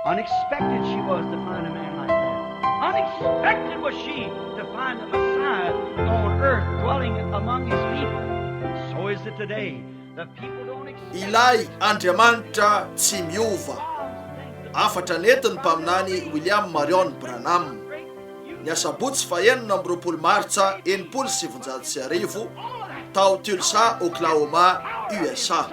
Unexpected she was to find a man like that. Unexpected was she to find the Messiah on earth dwelling among his people. So is it today. The people don't expect Ilay Andriamanitra tsy miova. Afatra nentin'ny mpaminany William Marion Branham. Ny asabotsy fahenina amby roapolo martsa enimpolo sy sivinjato sy arivo tao Tulsa, Oklahoma, USA.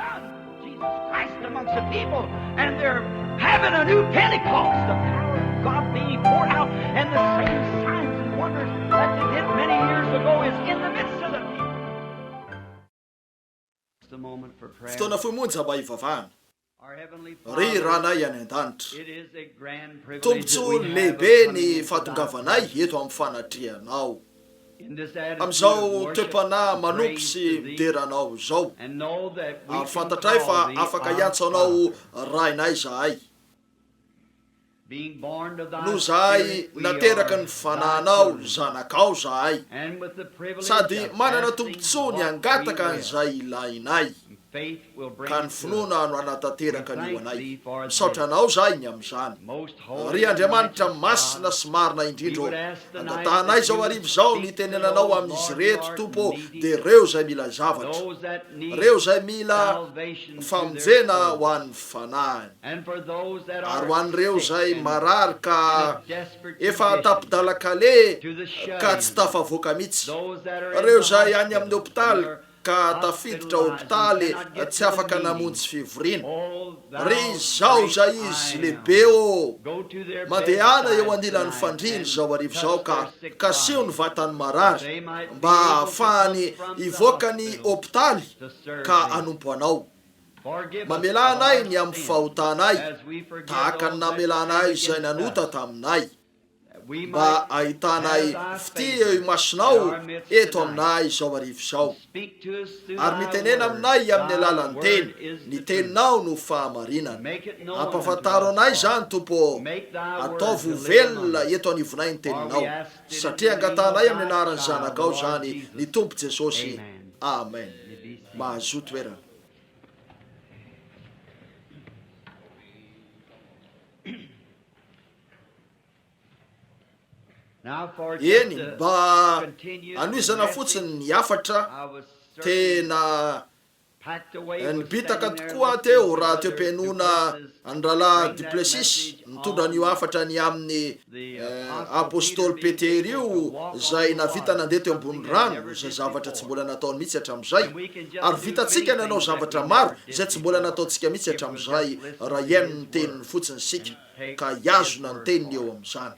Fotoana fohy monja mba hivavahana. Ry Ranay any An-danitra, tombontsoa lehibe ny fahatongavanay eto amin'ny fanatrianao. amin'izao toe-panahy manompo sy midera Anao izao, ary fantatray fa afaka hiantso Anao Rainay izahay, noho izahay nateraka ny Fanahinao ny zanakao izahay, sady manana tombontsoa ny hangataka an'izay ilainay. ka ny finoana no hanatanteraka ny ho anay. Misaotra Anao izahay ny amin'izany. Ry Andriamanitra masina sy marina indrindra ô, angatahanay izao hariva izao ny hitenenanao amin'izy ireto, Tompo ô, dia ireo izay mila zavatra, ireo izay mila famonjena ho an'ny fanahiny, ary ho an'ireo izay marary ka efa an-tapin-dalan-kaleha ka tsy tafavoaka mihitsy, ireo izay any amin'ny hopitaly ka tafiditra hopitaly tsy afaka namonjy fivoriana. Ry izao izay izy lehibe ô! Mandehana eo anilan'ny fandriana izao hariva izao ka kasio ny vatan'ny marary mba hahafahany hivoaka ny hopitaly ka hanompo Anao. Mamelà anay ny amin'ny fahotanay, tahaka ny namelànay izay nanota taminay. mba hahitanay fitia eo imasonao eto aminay izao hariva izao, ary mitenena aminay amin'ny alalan'ny Teny, ny Teninao no fahamarinana. Ampafantaro anay izany, Tompo ô, ataovy ho velona eto anivonay ny Teninao, satria angatahanay amin'ny anaran'ny Zanakao izany, ny Tompo Jesosy. Amen. Mahazoa toerana. Eny, mba hanohizana fotsiny ny hafatra, tena nibitaka tokoa aho teo raha toe-pihainoana an'i Rahalahy Duplessis nitondra an'io hafatra ny amin'ny Apostoly Petera io izay nahavita nandeha teo ambony rano, izay zavatra tsy mbola nataony mihitsy hatramin'izay. Ary vitantsika nanao zavatra maro izay tsy mbola nataontsika mihitsy hatramin'izay raha hihaino ny Teniny fotsiny isika. ka hihazona ny teniny eo amin'izany.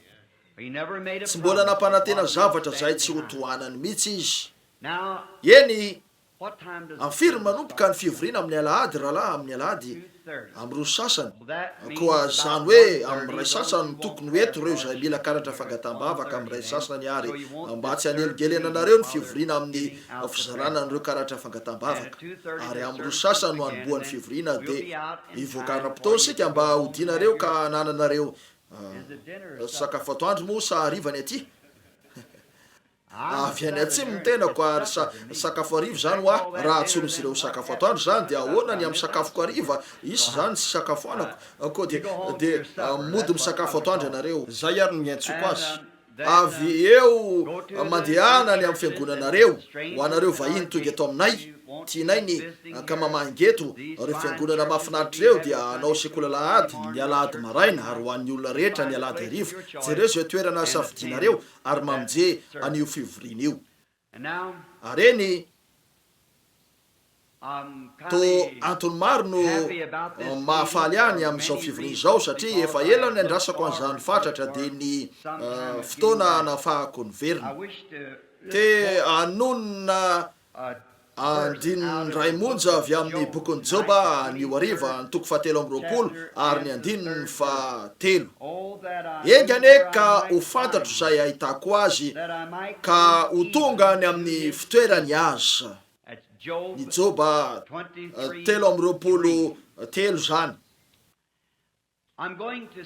Tsy mbola nampanantena zavatra izay tsy hotohanany mihitsy izy. Eny, amin'ny firy no manomboka ny fivoriana amin'ny Alahady, rahalahy, amin'ny Alahady? Amin'ireo sasany. Koa izany hoe amin'ny iray sasany no tokony ho eto ireo izay mila karatra fangataham-bavaka, amin'ny iray sasany àry, mba tsy hanelingelenanareo ny fivoriana amin'ny fizarana an'ireo karatra fangataham-bavaka. Ary amin'ireo sasany no hanombohan'ny fivoriana, dia. Hivoaka ana mpitaory isika mba hodianareo ka hanananareo sakafo atoandro moa sa hariva ny aty? Avy any atsimo ny tenako ary sa sakafo hariva izany ho ahy? Raha atsorin'izy ireo ho sakafo atoandro izany dia ahoana ny amin'ny sakafoko hariva? Hisy izany tsy isakafoanako? Koa dia dia mody misakafo atoandro ianareo? Izay ary no niantsoako azy. Avy eo mandehana any amin'ny fiangonanareo, ho anareo vahiny tonga eto aminay, tianay ny hankamamaha ingeto ireo fiangonana mahafinaritra ireo dia hanao sekoly alahady ny alahady maraina ary ho an'ny olona rehetra ny alahady hariva, jereo izay toerana hasafidianareo ary mamonje an'io fivoriana io. Ary eny, toa antony maro no mahafaly ahy ny amin'izao fivoriana izao, satria efa ela no niandrasako an'izany fatratra, dia ny fotoana nahafahako niverina. Te hanonona andininy iray monja avy amin'ny bokin'i Joba anio hariva, ny toko fahatelo amby roapolo ary ny andininy fahatelo. Enga anie ka ho fantatro izay ahitako azy, ka ho tonga any amin'ny fitoerany aza. Ny Joba telo amby roapolo telo izany.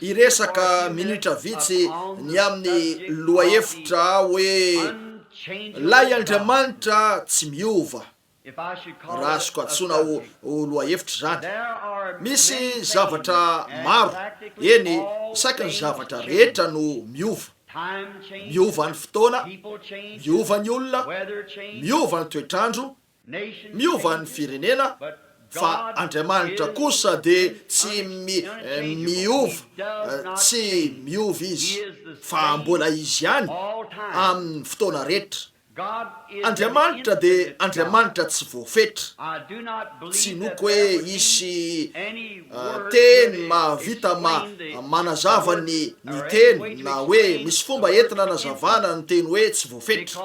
Hiresaka minitra vitsy ny amin'ny lohahevitra aho hoe, Ilay Andriamanitra tsy miova. Raha azoko antsoina ho lohahevitra izany, misy zavatra maro, eny, isaky ny zavatra rehetra no miova. Miova ny fotoana, miova ny olona, miova ny toetr'andro, miova ny firenena, fa Andriamanitra kosa dia tsy miova, tsy miova Izy, fa mbola Izy ihany amin'ny fotoana rehetra. Andriamanitra dia Andriamanitra tsy voafetra. Tsy inoako hoe hisy teny mahavita manazava ny ny teny na hoe misy fomba entina anazavana ny teny hoe tsy voafetra.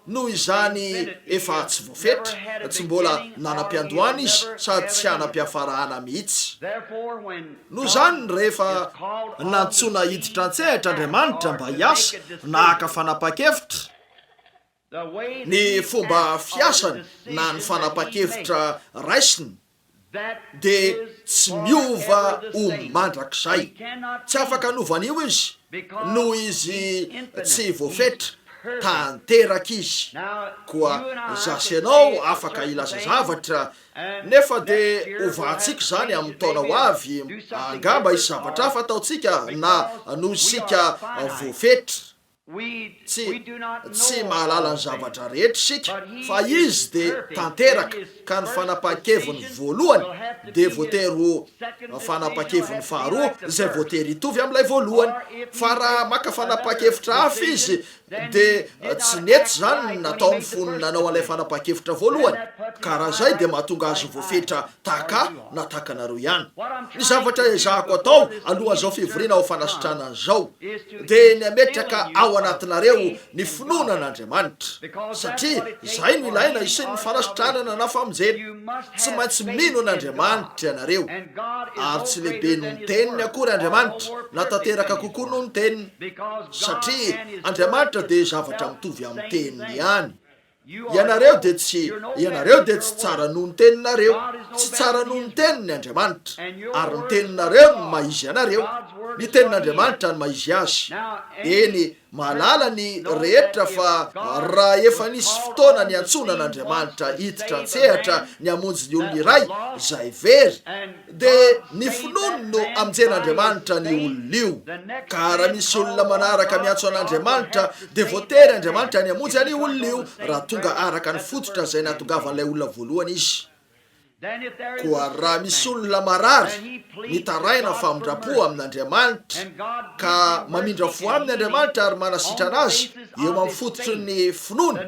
Noho izany efa tsy voafetra, tsy mbola nanam-piandohana izy sady tsy hanam-piafarahana mihitsy. Noho izany, rehefa nantsoina hiditra an-tsehatra Andriamanitra mba hiasa na haka fanapahan-kevitra, ny fomba fiasany na ny fanapahan-kevitra raisiny dia tsy miova ho mandrakizay. Tsy afaka hanova an'io izy, noho izy tsy voafetra. Tanteraka izy. Koa izaho sy ianao afaka hilaza zavatra Nefa dia hovahantsika izany amin'ny taona ho avy, angamba hisy zavatra hafa ataontsika na noho isika voafetra. Tsy, tsy mahalala ny zavatra rehetra isika, fa Izy dia tanteraka, ka ny fanapahan-keviny voalohany dia voatery ho fanapahan-keviny faharoa izay voatery hitovy amin'ilay voalohany. Fa raha maka fanapahan-kevitra hafa Izy, Dia tsy nety izany ny nataony fony nanao an'ilay fanapahan-kevitra voalohany, ka raha izay dia mahatonga azy voafetra tahaka ahy na tahaka anareo ihany. Ny zavatra ezahako atao alohan'izao fivoriana ho fanasitrana an'izao, dia ny hametraka ao anatinareo ny finoana an'Andriamanitra, satria izay no ilaina hisian'ny fanasitranana na famonjena. Tsy maintsy mino an'Andriamanitra ianareo. Ary tsy lehibe noho ny Teniny akory Andriamanitra, na tanteraka kokoa noho ny Teniny. Satria Andriamanitra dia zavatra mitovy amin'ny Teniny ihany. Ianareo dia tsy, ianareo dia tsy tsara noho ny teninareo. Tsy tsara noho ny Teniny Andriamanitra. Ary ny teninareo no maha-izy anareo. Ny Tenin'Andriamanitra no maha-izy Azy. Eny, mahalala ny rehetra fa raha efa nisy fotoana niantsoana an'Andriamanitra hiditra an-tsehatra ny hamonjy ny olona iray, izay very, Dia ny finoany no hamonjen'Andriamanitra an'io olona io. Ka raha misy olona manaraka miantso an'Andriamanitra, dia voatery Andriamanitra ny hamonjy an'io olona io, raha tonga araka ny fototra izay nahatongavan'ilay olona voalohany izy. Koa raha misy olona marary, mitaraina famindram-po amin'Andriamanitra, ka mamindra fo aminy Andriamanitra ary manasitrana azy eo amin'ny fototry ny finoany,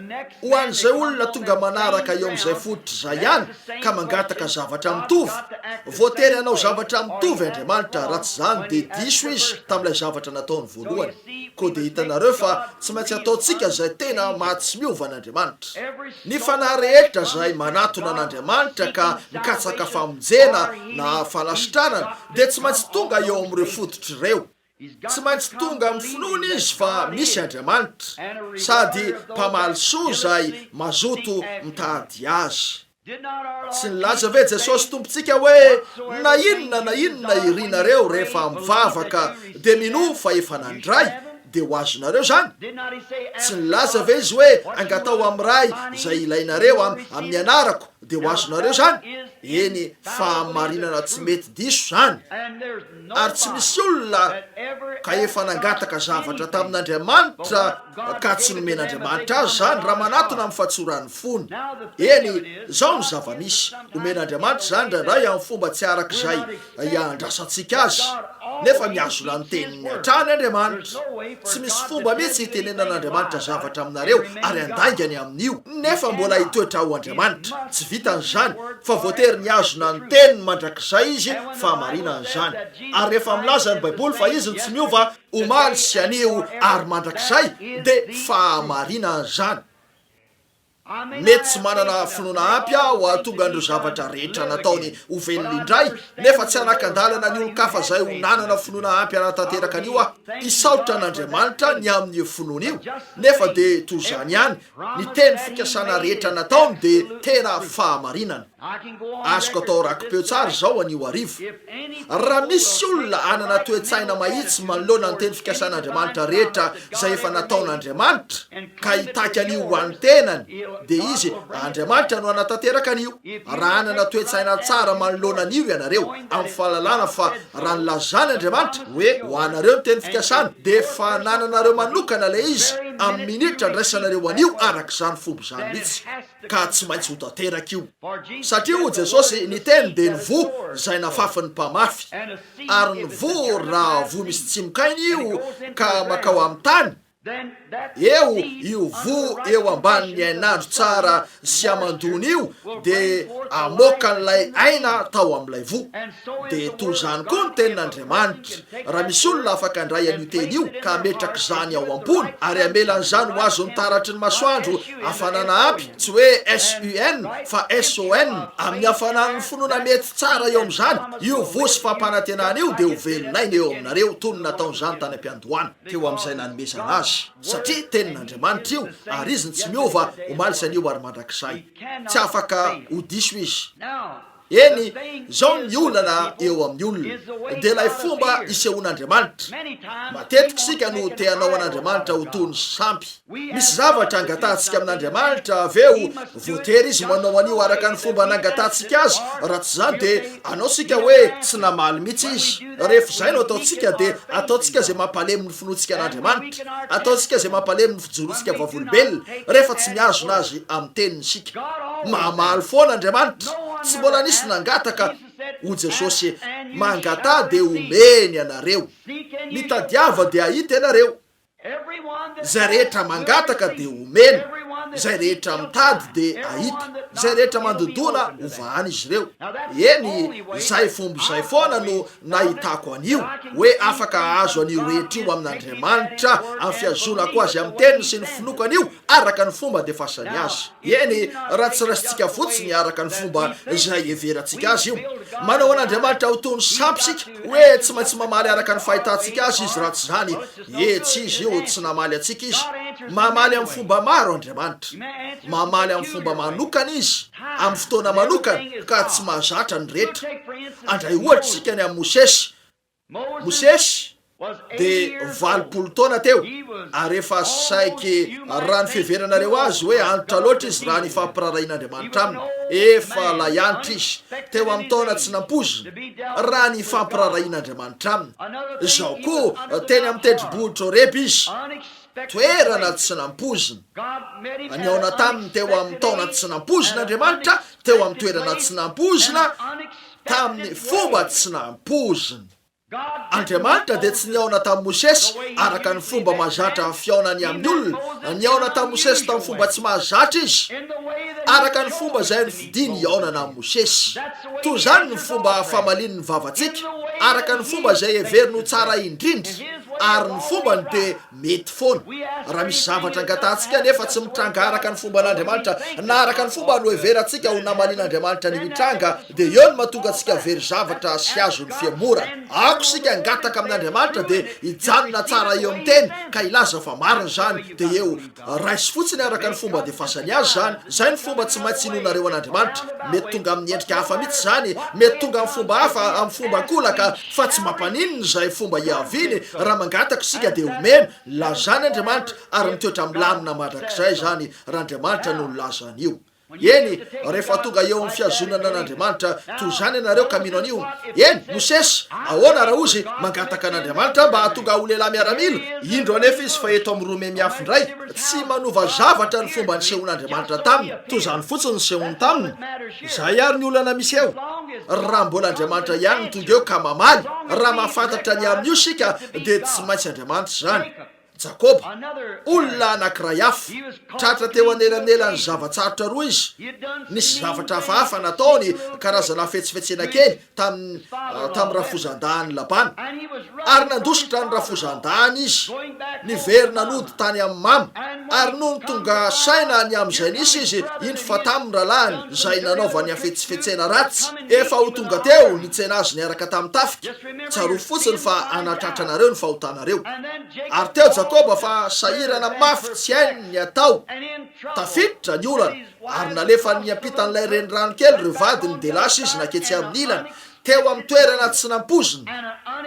Ho an'izay olona tonga manaraka eo amin'izay fototra izay ihany ka mangataka zavatra mitovy, voatery hanao zavatra mitovy Andriamanitra raha tsy izany dia diso Izy tamin'ilay zavatra nataony voalohany. Koa dia hitanareo fa tsy maintsy ataontsika izay tena maha tsy miova an'Andriamanitra. Ny fanahy rehetra izay manatona an'Andriamanitra ka mikatsaka famonjena na fanasitranana dia tsy maintsy tonga eo amin'ireo fototra ireo. Tsy maintsy tonga amin'ny finoana izy fa misy Andriamanitra, sady mpamaly soa izay mazoto mitady Azy. Tsy nilaza ve Jesosy Tompontsika hoe, Na inona na inona irinareo rehefa mivavaka, dia minoa fa efa nandray, dia ho azonareo izany? Tsy nilaza ve Izy hoe, Angataho amin'ny Ray izay ilainareo amin'ny anarako, dia ho azonareo izany? Eny, fahamarinana tsy mety diso izany. ary tsy misy olona ka efa nangataka zavatra tamin'Andriamanitra ka tsy nomen'Andriamanitra azy izany raha manatona amin'ny fatsoran'ny fony. Eny, izao ny zava-misy, omen'Andriamanitra izany indraindray amin'ny fomba tsy araka izay iandrasantsika azy. Nefa mihazona ny teniny hatrany Andriamanitra. Tsy misy fomba mihitsy hitenenan'Andriamanitra zavatra aminareo ary handaingany amin'io, nefa mbola hitoetra ho Andriamanitra. Tsy vitan'izany, fa voatery mihazona ny teniny mandrakizay izy fahamarinana izany. Ary rehefa milaza ny Baiboly fa izy no tsy miova, omaly sy anio ary mandrakizay, dia fahamarinana izany. Mety tsy manana finoana ampy aho hahatonga an'ireo zavatra rehetra nataony ho velona indray, nefa tsy hanakan-dalana ny olon-kafa izay ho nanana finoana ampy hanatanteraka an'io aho. Hisaotra an'Andriamanitra ny amin'io finoana io. Nefa dia toy izany ihany, ny teny fikasana rehetra nataony dia tena fahamarinana. Azoko atao raki-peo tsara izao anio hariva. Raha misy olona hanana toe-tsaina mahitsy manoloana ny teny fikasan'Andriamanitra rehetra izay efa nataon'Andriamanitra, ka hitaky an'io ho an'ny tenany, dia izy Andriamanitra no hanatanteraka an'io. Raha hanana toe-tsaina tsara manoloana an'io ianareo, amin'ny fahalalana fa raha nilazan' Andriamanitra hoe ho anareo ny teny fikasany, dia efa anananareo manokana ilay izy amin'ny minitra andraisanareo an'io araka izany fomba izany mihitsy. ka tsy maintsy ho tanteraka io, satria hoy Jesosy, ny teny dia ny voa izay nafafin'ny mpamafy, ary ny voa raha voa misy tsimoka aina io ka makao amin'ny tany, eo io voa eo ambanin'ny hainandro tsara sy aman-doany io dia amoakan'ilay aina tao amin'ilay voa. Dia toy izany koa ny Tenin'Andriamanitra. Raha misy olona afaka handray an'io Teny io, ka hametraka izany ao am-pony, ary hamela an'izany ho azon'ny taratry ny masoandro hafanana aby, tsy hoe S-U-N, fa S-O-N, amin'ny hafanan'ny finoana mety tsara eo amin'izany, io voa sy fampanantenana io dia ho velon'aina eo aminareo, toy ny nataon'izany tany am-piandohana, teo amin'izay nanomezana azy, satria Tenin'Andriamanitra io, ary Izy no tsy miova, omaly sy anio ary mandrakizay. Tsy afaka ho diso Izy. Eny, izao ny olana eo amin'ny olona, dia ilay fomba isehoan'Andriamanitra. Matetika isika no te hanao an'Andriamanitra ho toy ny sampy. Misy zavatra angatahantsika amin'Andriamanitra, avy eo voatery Izy manao an'io araka ny fomba nangatantsika Azy, raha tsy izany dia hanao isika hoe tsy namaly mihitsy Izy. Rehefa izay no ataontsika, dia ataontsika izay mampalemy ny finoantsika an'Andriamanitra, ataontsika izay mampalemy ny fijoroantsika vavolombelona, rehefa tsy mihazona Azy amin'ny Teniny isika. Mamaly foana Andriamanitra, tsy mbola nisy nangataka ho Jesosy, Mangataha dia homeny anareo, mitadiava dia hahita ianareo, Izay rehetra mangataka dia homena, izay rehetra mitady dia ahita, izay rehetra mandodona ho vahany izy ireo. Eny, izay fomba izay foana no nahitako an'io, hoe afaka hahazo an'io rehetra io amin'Andriamanitra amin'ny fihazonako azy amin'ny teniny sy ny finoako an'io, araka ny fomba andefasany azy. Eny, raha tsy raisintsika fotsiny araka ny fomba izay iheverantsika azy io. Manao an'Andriamanitra ho toy ny sampy isika, hoe tsy maintsy mamaly araka ny fahitantsika azy izy raha tsy izany, ie, tsy izy io, tsy namaly antsika izy. Mamaly amin'ny fomba maro Andriamanitra. Mamaly amin'ny fomba manokana izy, amin'ny fotoana manokana, ka tsy mahazatra ny rehetra. Handray ohatra isika ny amin'i Mosesy, Mosesy dia valopolo taona teo, ary efa saiky raha ny fiheveranareo azy hoe antitra loatra izy raha ny fampirarahian'Andriamanitra aminy. Efa lay antitra izy, teo amin'ny taona tsy nampoizina, raha ny fampirarahian'Andriamanitra aminy. Izao koa, teny amin'ny tendrombohitra Horeba izy, toerana tsy nampoizina. Nihaona taminy teo amin'ny taona tsy nampoizina Andriamanitra, teo amin'ny toerana tsy nampoizina. tamin'ny fomba tsy nampoizina. Andriamanitra dia tsy nihaona tamin'i Mosesy araka ny fomba mahazatra fihaonany amin'ny olona. Nihaona tamin'i Mosesy tamin'ny fomba tsy mahazatra izy, araka ny fomba izay nofidiny hihaonana amin'i Mosesy. Toy izany ny fomba famalian'ny vavantsika, araka ny fomba izay heveriny ho tsara indrindra, ary ny fombany dia Mety foana. Raha misy zavatra angatahantsika nefa tsy mitranga araka ny fomban'Andriamanitra na araka ny fomba noheverantsika ho namalian'Andriamanitra ny mitranga, dia eo no mahatonga antsika very zavatra sy azon'ny fihemorana. Aoka isika hangataka amin'Andriamanitra dia hijanona tsara eo amin'ny Teny ka hilaza fa marina izany, dia eo. Raiso fotsiny araka ny fomba andefasany azy izany. Izay no fomba tsy maintsy hinoanareo an'Andriamanitra. Mety tonga amin'ny endrika hafa mihitsy izany, mety tonga amin'ny fomba hafa, amin'ny fomba an-kolaka, Fa tsy mampaninona izay fomba hiaviany raha mangataka isika dia omeny, lazany Andriamanitra ary mitoetra milamina mandrakizay izany raha Andriamanitra no nilaza an'io. Eny, rehefa tonga eo amin'ny fihazonana an'Andriamanitra toy izany ianareo ka mino an'io, eny, Mosesy, ahoana raha Ozy mangataka an'Andriamanitra mba hahatonga ho lehilahy miaramila? Indro anefa izy fa eto amin'ny Rome miafy indray, tsy manova zavatra ny fomba nisehoan'Andriamanitra taminy, toy izany fotsiny nisehoany taminy. Izay ary ny olana misy eo. Raha mbola Andriamanitra ihany no tonga eo ka mamaly, raha mahafantatra ny amin'io isika, dia tsy maintsy Andriamanitra izany. Jakoba, olona anankiray hafa. Tratra teo anelanelan'ny zava-tsarotra roa izy. Nisy zavatra hafahafa nataony, karazana fihetsifihetsena kely, tamin'ny tamin'ny rafozan-dahin'i Labana, ary nandositra ny rafozan-dahiny izy, niverina nody tany amin'ny mama, ary nony tonga saina ny amin'izay nisy izy, indro fa tamin'ny rahalahiny izay nanaovany hafetsifetsena ratsy, efa ho tonga teo nitsena azy niaraka tamin'ny tafika, tsarovy fotsiny fa hanatratra anareo ny fahotanareo. Ary teo Jakoba fa sahirana mafy tsy hainy ny hatao, tafiditra ny olana. ary nalefany niampitan'ilay renirano kely ireo vadiny dia lasa izy naketsy amin'ny ilany teo amin'ny toerana tsy nampoiziny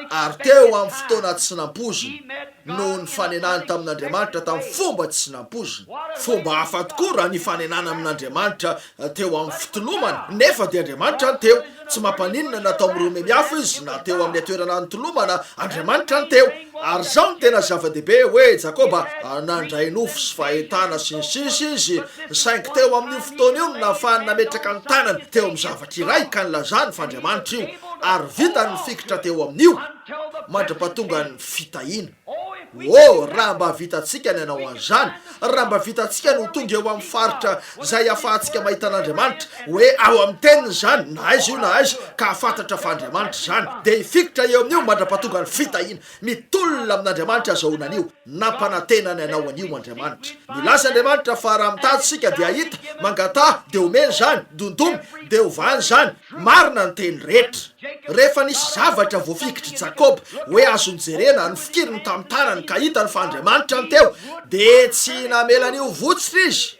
ary teo amin'ny fotoana tsy nampoiziny noho ny fanenany tamin'Andriamanitra tamin'ny fomba tsy nampoiziny. Fomba hafa tokoa raha nifanenana amin'Andriamanitra teo amin'ny fitolomany, nefa dia Andriamanitra no teo Tsy mampaninona na tao amin'ny Romiemy hafa izy na teo amin'ny toerana nitolomana Andriamanitra ny teo. Ary izao no tena zava-dehibe, hoe Jakoba, nandray nofo sy fahitana sy ny sisa izy, saingy teo amin'io fotoana io no nahafahany nametraka ny tanany teo amin'ny zavatra iray ka nilazany fa Andriamanitra io, ary vitany ny fikitra teo amin'io mandra-pahatongan'ny fitahiana. Oh, raha mba vitantsika ny hanao an'izany! Raha mba vitantsika ny ho tonga eo amin'ny faritra izay ahafahantsika mahita an'Andriamanitra, hoe ao amin'ny Teniny izany, na aiza io na aiza, ka hahafantatra fa Andriamanitra izany, dia hifikitra eo amin'io mandra-pahatonga ny fitahiana. Mitolona amin'Andriamanitra azahoana an'io. Nampanantena ny hanao an'io Andriamanitra. Nilaza Andriamanitra fa raha mitady isika dia hahita, mangataha, dia homena izany, dondomy, dia hovahana izany. Marina ny teny rehetra. Rehefa nisy zavatra voafikitr'i Jakoba hoe azo nojerena, nofikiny ny tamin'ny tarany ka hitany fa Andriamanitra no teo, dia tsy namela ny ho votsitra izy.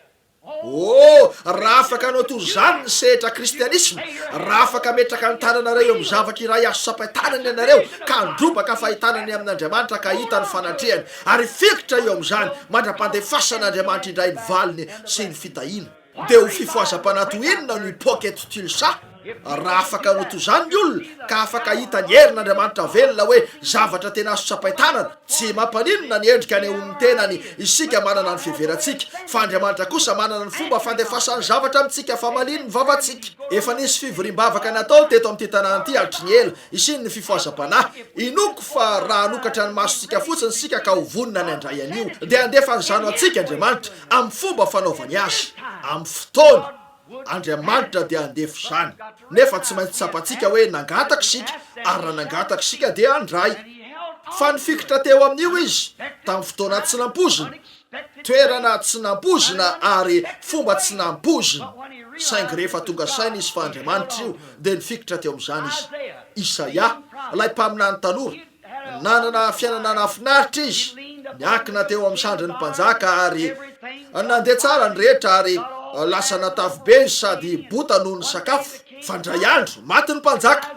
Oh, raha afaka hanao toy izany ny sehatra kristianisma, raha afaka hametraka ny tananareo eo amin'ny zavatra iray azo tsapain-tanana ianareo ka handrobaka fahitana ny amin'Andriamanitra ka hita ny fanatrehany ary hifikitra eo amin'izany mandra-pandefasan'Andriamanitra indray ny valiny sy ny fitahiana Dia ho fifohazam-panahy toy inona no hipoaka eto Tulsa raha afaka hanao toy izany ny olona, ka afaka hahita ny herin'Andriamanitra velona hoe zavatra tena azo tsapain-tanana! Tsy mampaninona ny endrika anehoan'ny tenany isika manana ny fiheverantsika, fa Andriamanitra kosa manana ny fomba fandefasany zavatra amintsika famalian'ny vavantsika. Efa nisy fivoriam-bavaka natao teto amin'ity tanàna ity hatry ny ela, hisian'ny fifohazam-panahy. Inoako fa raha hanokatra ny masontsika fotsiny isika ka ho vonona ny handray an'io, dia handefa an'izany ho antsika Andriamanitra. amin'ny fomba fanaovany azy, amin'ny fotoany, Andriamanitra dia handefa izany. Nefa tsy maintsy tsapantsika hoe nangataka isika, ary raha nangataka isika dia handray. Fa nifikitra teo amin'io Izy, tamin'ny fotoana tsy nampoizina, toerana tsy nampoizina ary fomba tsy nampoizina, saingy rehefa tonga saina izy fa Andriamanitra io, dia nifikitra teo amin'izany izy. Isaia, ilay mpaminany tanora, Nanana fiainana nahafinaritra izy, niankina teo amin'ny sandrin'ny mpanjaka ary nandeha tsara ny rehetra ary lasa natavy be izy sady bota noho ny sakafo. Fa indray andro, maty ny mpanjaka,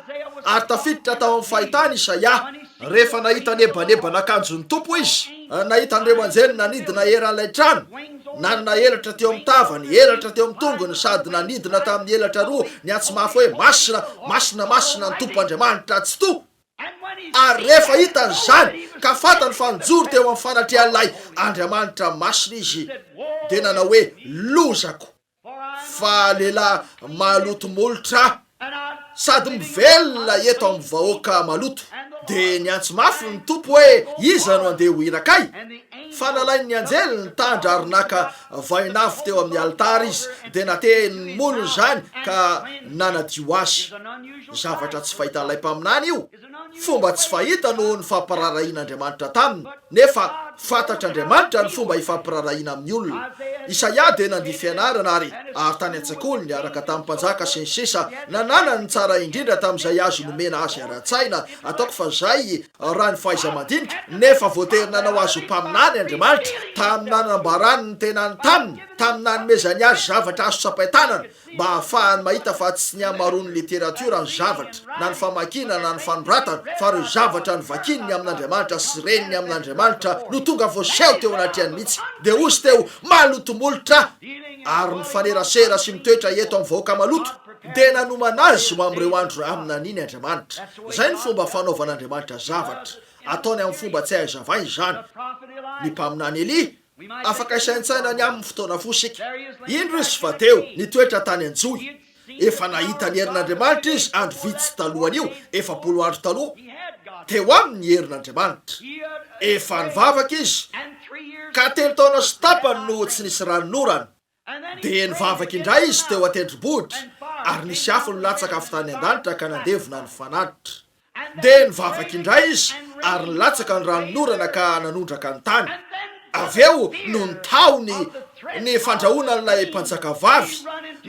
ary tafiditra tao amin'ny fahitany Isaia rehefa nahita nebaneban'akanjon'ny Tompo izy. Nahita an'ireo anjely nanidina eran'ilay trano, nanana elatra teo amin'ny tavany, elatra teo amin'ny tongony, sady nanidina tamin'ny elatra roa niantso mafy hoe, Masina, masina, masina ny Tompo Andriamanitra Tsitoha! Ary rehefa hitany izany, ka fantany fa nijoro teo amin'ny fanatrehan'ilay Andriamanitra masina izy, dia nanao hoe, Lozako! Fa lehilahy maloto molotra aho, sady mivelona eto amin'ny vahoaka maloto. Dia niantso mafy ny Tompo hoe, Iza no handeha ho hira kay? Fa nalain'ny anjely ny tandra ary naka vain'afo teo amin'ny alitara izy, dia nateny ny molony izany ka nanadio azy. zavatra tsy fahitan'ilay mpaminany io, fomba tsy fahita noho ny fampirarahian'Andriamanitra taminy, nefa fantatr'Andriamanitra ny fomba ifampirarahiana amin'ny olona. Isaia dia nandia fianarana ary ary tany an-tsekoly niaraka tamin'ny mpanjaka sy ny sisa nananany ny tsara indrindra tamin'izay azo nomena azy ara-tsaina, ataoko fa izay raha ny fahaiza-mandinika, nefa voatery nanao azy ho mpaminany Andriamanitra tamin'ny nanambarany ny tenany taminy, tamin'ny nanomezany azy zavatra azo tsapain-tanana. mba hahafahany mahita fa tsy ny hamaroan'ny literatiora ny zavatra, na ny famakiana na ny fanoratana, fa ireo zavatra novakiany ny amin'Andriamanitra sy reniny amin'Andriamanitra no tonga voaseho teo anatrehany mihitsy. Dia hozy teo, Maloto molotra ary mifanerasera sy mitoetra eto amin'ny vahoaka maloto. Dia nanomana azy ho amin'ireo andro aminaniny Andriamanitra. Izay no fomba fanaovan'Andriamanitra zavatra. Ataony amin'ny fomba tsy hay hazavaina izany. Ny mpaminany Elia Afaka hisaintsaina ny amin'ny fotoana fo isika. Indro izy fa teo, nitoetra tany an-johy. Efa nahita ny herin'Andriamanitra izy andro vitsy talohan'io, efapolo andro taloha. Teo aminy ny herin'Andriamanitra. Efa nivavaka izy, ka telo taona sy tapany no tsy nisy ranonorana. Dia nivavaka indray izy teo an-tendrombohitra, ary nisy afo nilatsaka avy tany an-danitra ka nandevona ny fanatitra. Dia nivavaka indray izy, ary nilatsaka ny ranonorana ka nanondraka ny tany. Avy eo, nony tahony ny fandrahonan'ilay mpanjakavavy,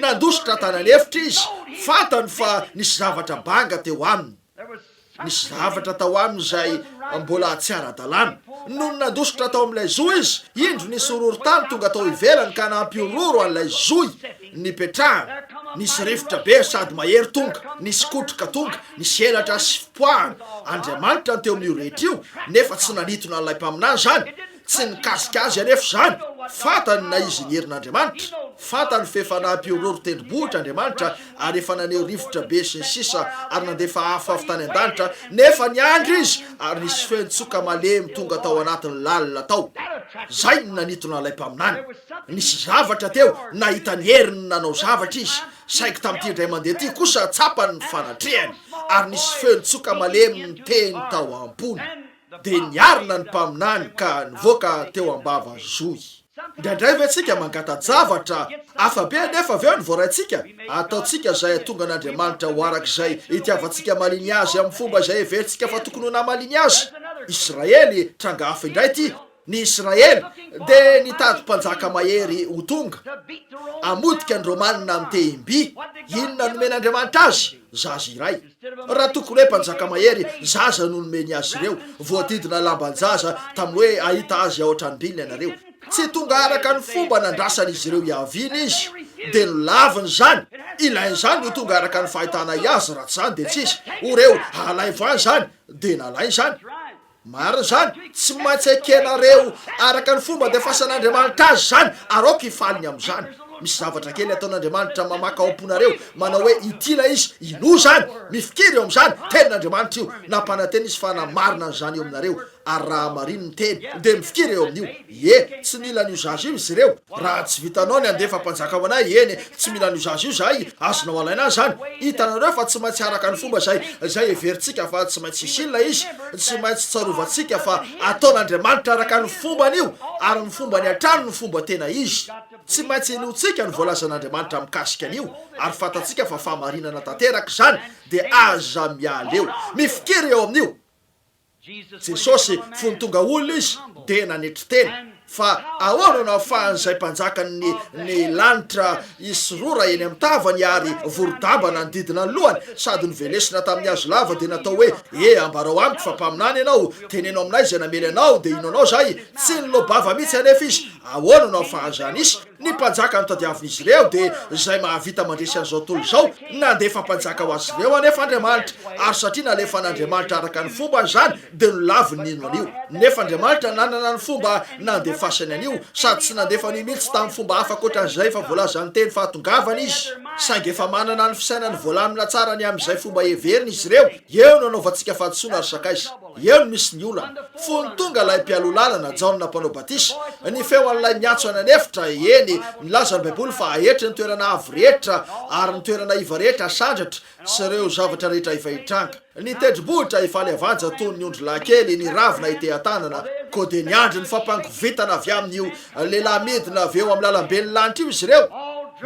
nandositra tany an'efitra izy, fantany fa nisy zavatra banga teo aminy. Nisy zavatra tao aminy izay mbola tsy ara-dalàna. Nony nandositra tao amin'ilay zohy izy, indro nisy horohorontany tonga tao ivelany ka nampihorohoro an'ilay zohy nipetrahany. Nisy rivotra be sady mahery tonga, nisy kotroka tonga, nisy elatra sy fipoahana. Andriamanitra no teo amin'io rehetra io, nefa tsy nanintona an'ilay mpaminany izany. Tsy nikasika azy anefa izany. Fantany na izy ny herin'Andriamanitra. Fantany f'efa nampihorohoro tendrombohitra Andriamanitra ary efa naneho rivotra be sy ny sisa ary nandefa afo avy tany an-danitra, nefa niandry izy ary nisy fehintsoka malemy tonga tao anatiny lalina tao. Izay no nanitona ilay mpaminany. Nisy zavatra teo nahita ny heriny nanao zavatra izy, saingy tamin'ity indray mandeha ity kosa tsapany ny fanatrehany ary nisy fehintsoka malemy niteny tao am-pony. dia niarina ny mpaminany ka nivoaka teo am-bava zohy. Indraindray ve tsika mangata-javatra hafa be anefa avy eo ny voaraintsika? Ataontsika izay hahatonga an'Andriamanitra ho araka izay itiavantsika maliny Azy amin'ny fomba izay heverintsika fa tokony ho namaliny Azy. Israely, tranga hafa indray ity. Ny Israely dia nitady mpanjaka mahery ho tonga hamotika ny Romana mitehim-by. Inona nomen'Andriamanitra azy? Zaza iray. Raha tokony hoe mpanjaka mahery, zaza no nomeny azy ireo. Voadidina lamban-jaza tamin'ny hoe hahita azy ao an-tranom-biny ianareo. Tsy tonga araka ny fomba nandrasan'izy ireo i Avina izy, dia nolaviny izany. Ilain'izany ho tonga araka ny fahitana ahy azy, raha tsy izany dia tsy izy. O reo, halaivo ahy izany, dia nalainy izany. Marina izany, tsy maintsy ekenareo araka ny fomba andefasan'Andriamanitra azy izany, ary aoka hifaly ny amin'izany. Misy zavatra kely ataon'Andriamanitra mamaka ao am-ponareo, manao hoe ity ilay izy, inoa izany? Mifikira eo amin'izany, Tenin'Andriamanitra io, nampanantena Izy fa namarina an'izany eo aminareo, ary raha marino ny Teny, dia mifikira eo amin'io. Ie, tsy mila ny usage io izy ireo. Raha tsy vitanao ny handefa mpanjaka ho anay, eny e, tsy mila ny usage io izahay, azonao alaina azy izany. Hitanareo fa tsy maintsy araka ny fomba izay izay heverintsika fa tsy maintsy hisy ilay izy, tsy maintsy tsarovantsika fa ataon'Andriamanitra araka ny fombany io, ary ny fombany hatrany no fomba tena izy. Tsy maintsy inoantsika ny voalazan'Andriamanitra mikasika an'io, ary fantatsika fa fahamarinana tanteraka izany, dia aza miala eo. Mifikira eo amin'io. Jesosy, fony tonga olona Izy dia nanetry tena fa ahoana no ahafahan'izay Mpanjakan'ny ny lanitra hisorora eny amin'ny tavany ary vorodamba nanodidina ny lohany sady novelesina tamin'ny hazo lava dia natao hoe, Ee, ambarao amiko fa mpaminany ianao, teneno aminay izay namely anao dia ino anao izay? Tsy niloa-bava mihitsy anefa Izy, ahoana no ahafahan'izany hisy? Ny mpanjaka no tadiavin'izy ireo, dia izay mahavita mandresy an'izao tontolo izao, nandefa mpanjaka ho azy ireo anefa Andriamanitra, ary satria nalefa an'Andriamanitra araka ny fombany izany, dia nolaviny nino an'io. Nefa Andriamanitra nanana ny fomba nandefasany an'io, sady tsy nandefa an'io mihitsy tamin'ny fomba hafa ankoatra an'izay efa voalazan'ny teny fahatongavany izy, saingy efa manana ny fisainany voalamina tsara ny amin'izay fomba heveriny izy ireo, eo no anaovantsika fahadisoana ary sakaiza. Eo no misy ny olana. Fony tonga ilay mpialoha lalana, Jaona Mpanao Batisa, ny feon'ilay miantso any an'efitra, eny, milaza ny Baiboly fa ahetry ny toerana avo rehetra ary ny toerana iva rehetra hasandratra sy ireo zavatra rehetra efa hitranga. Ny tendrombohitra efa levanja toy ny ondry lahy kely ny ravina itehan-tanana, koa dia niandry ny fampangovitana avy amin'io lehilahy midina avy eo amin'ny lalambe ny lanitra io izy ireo,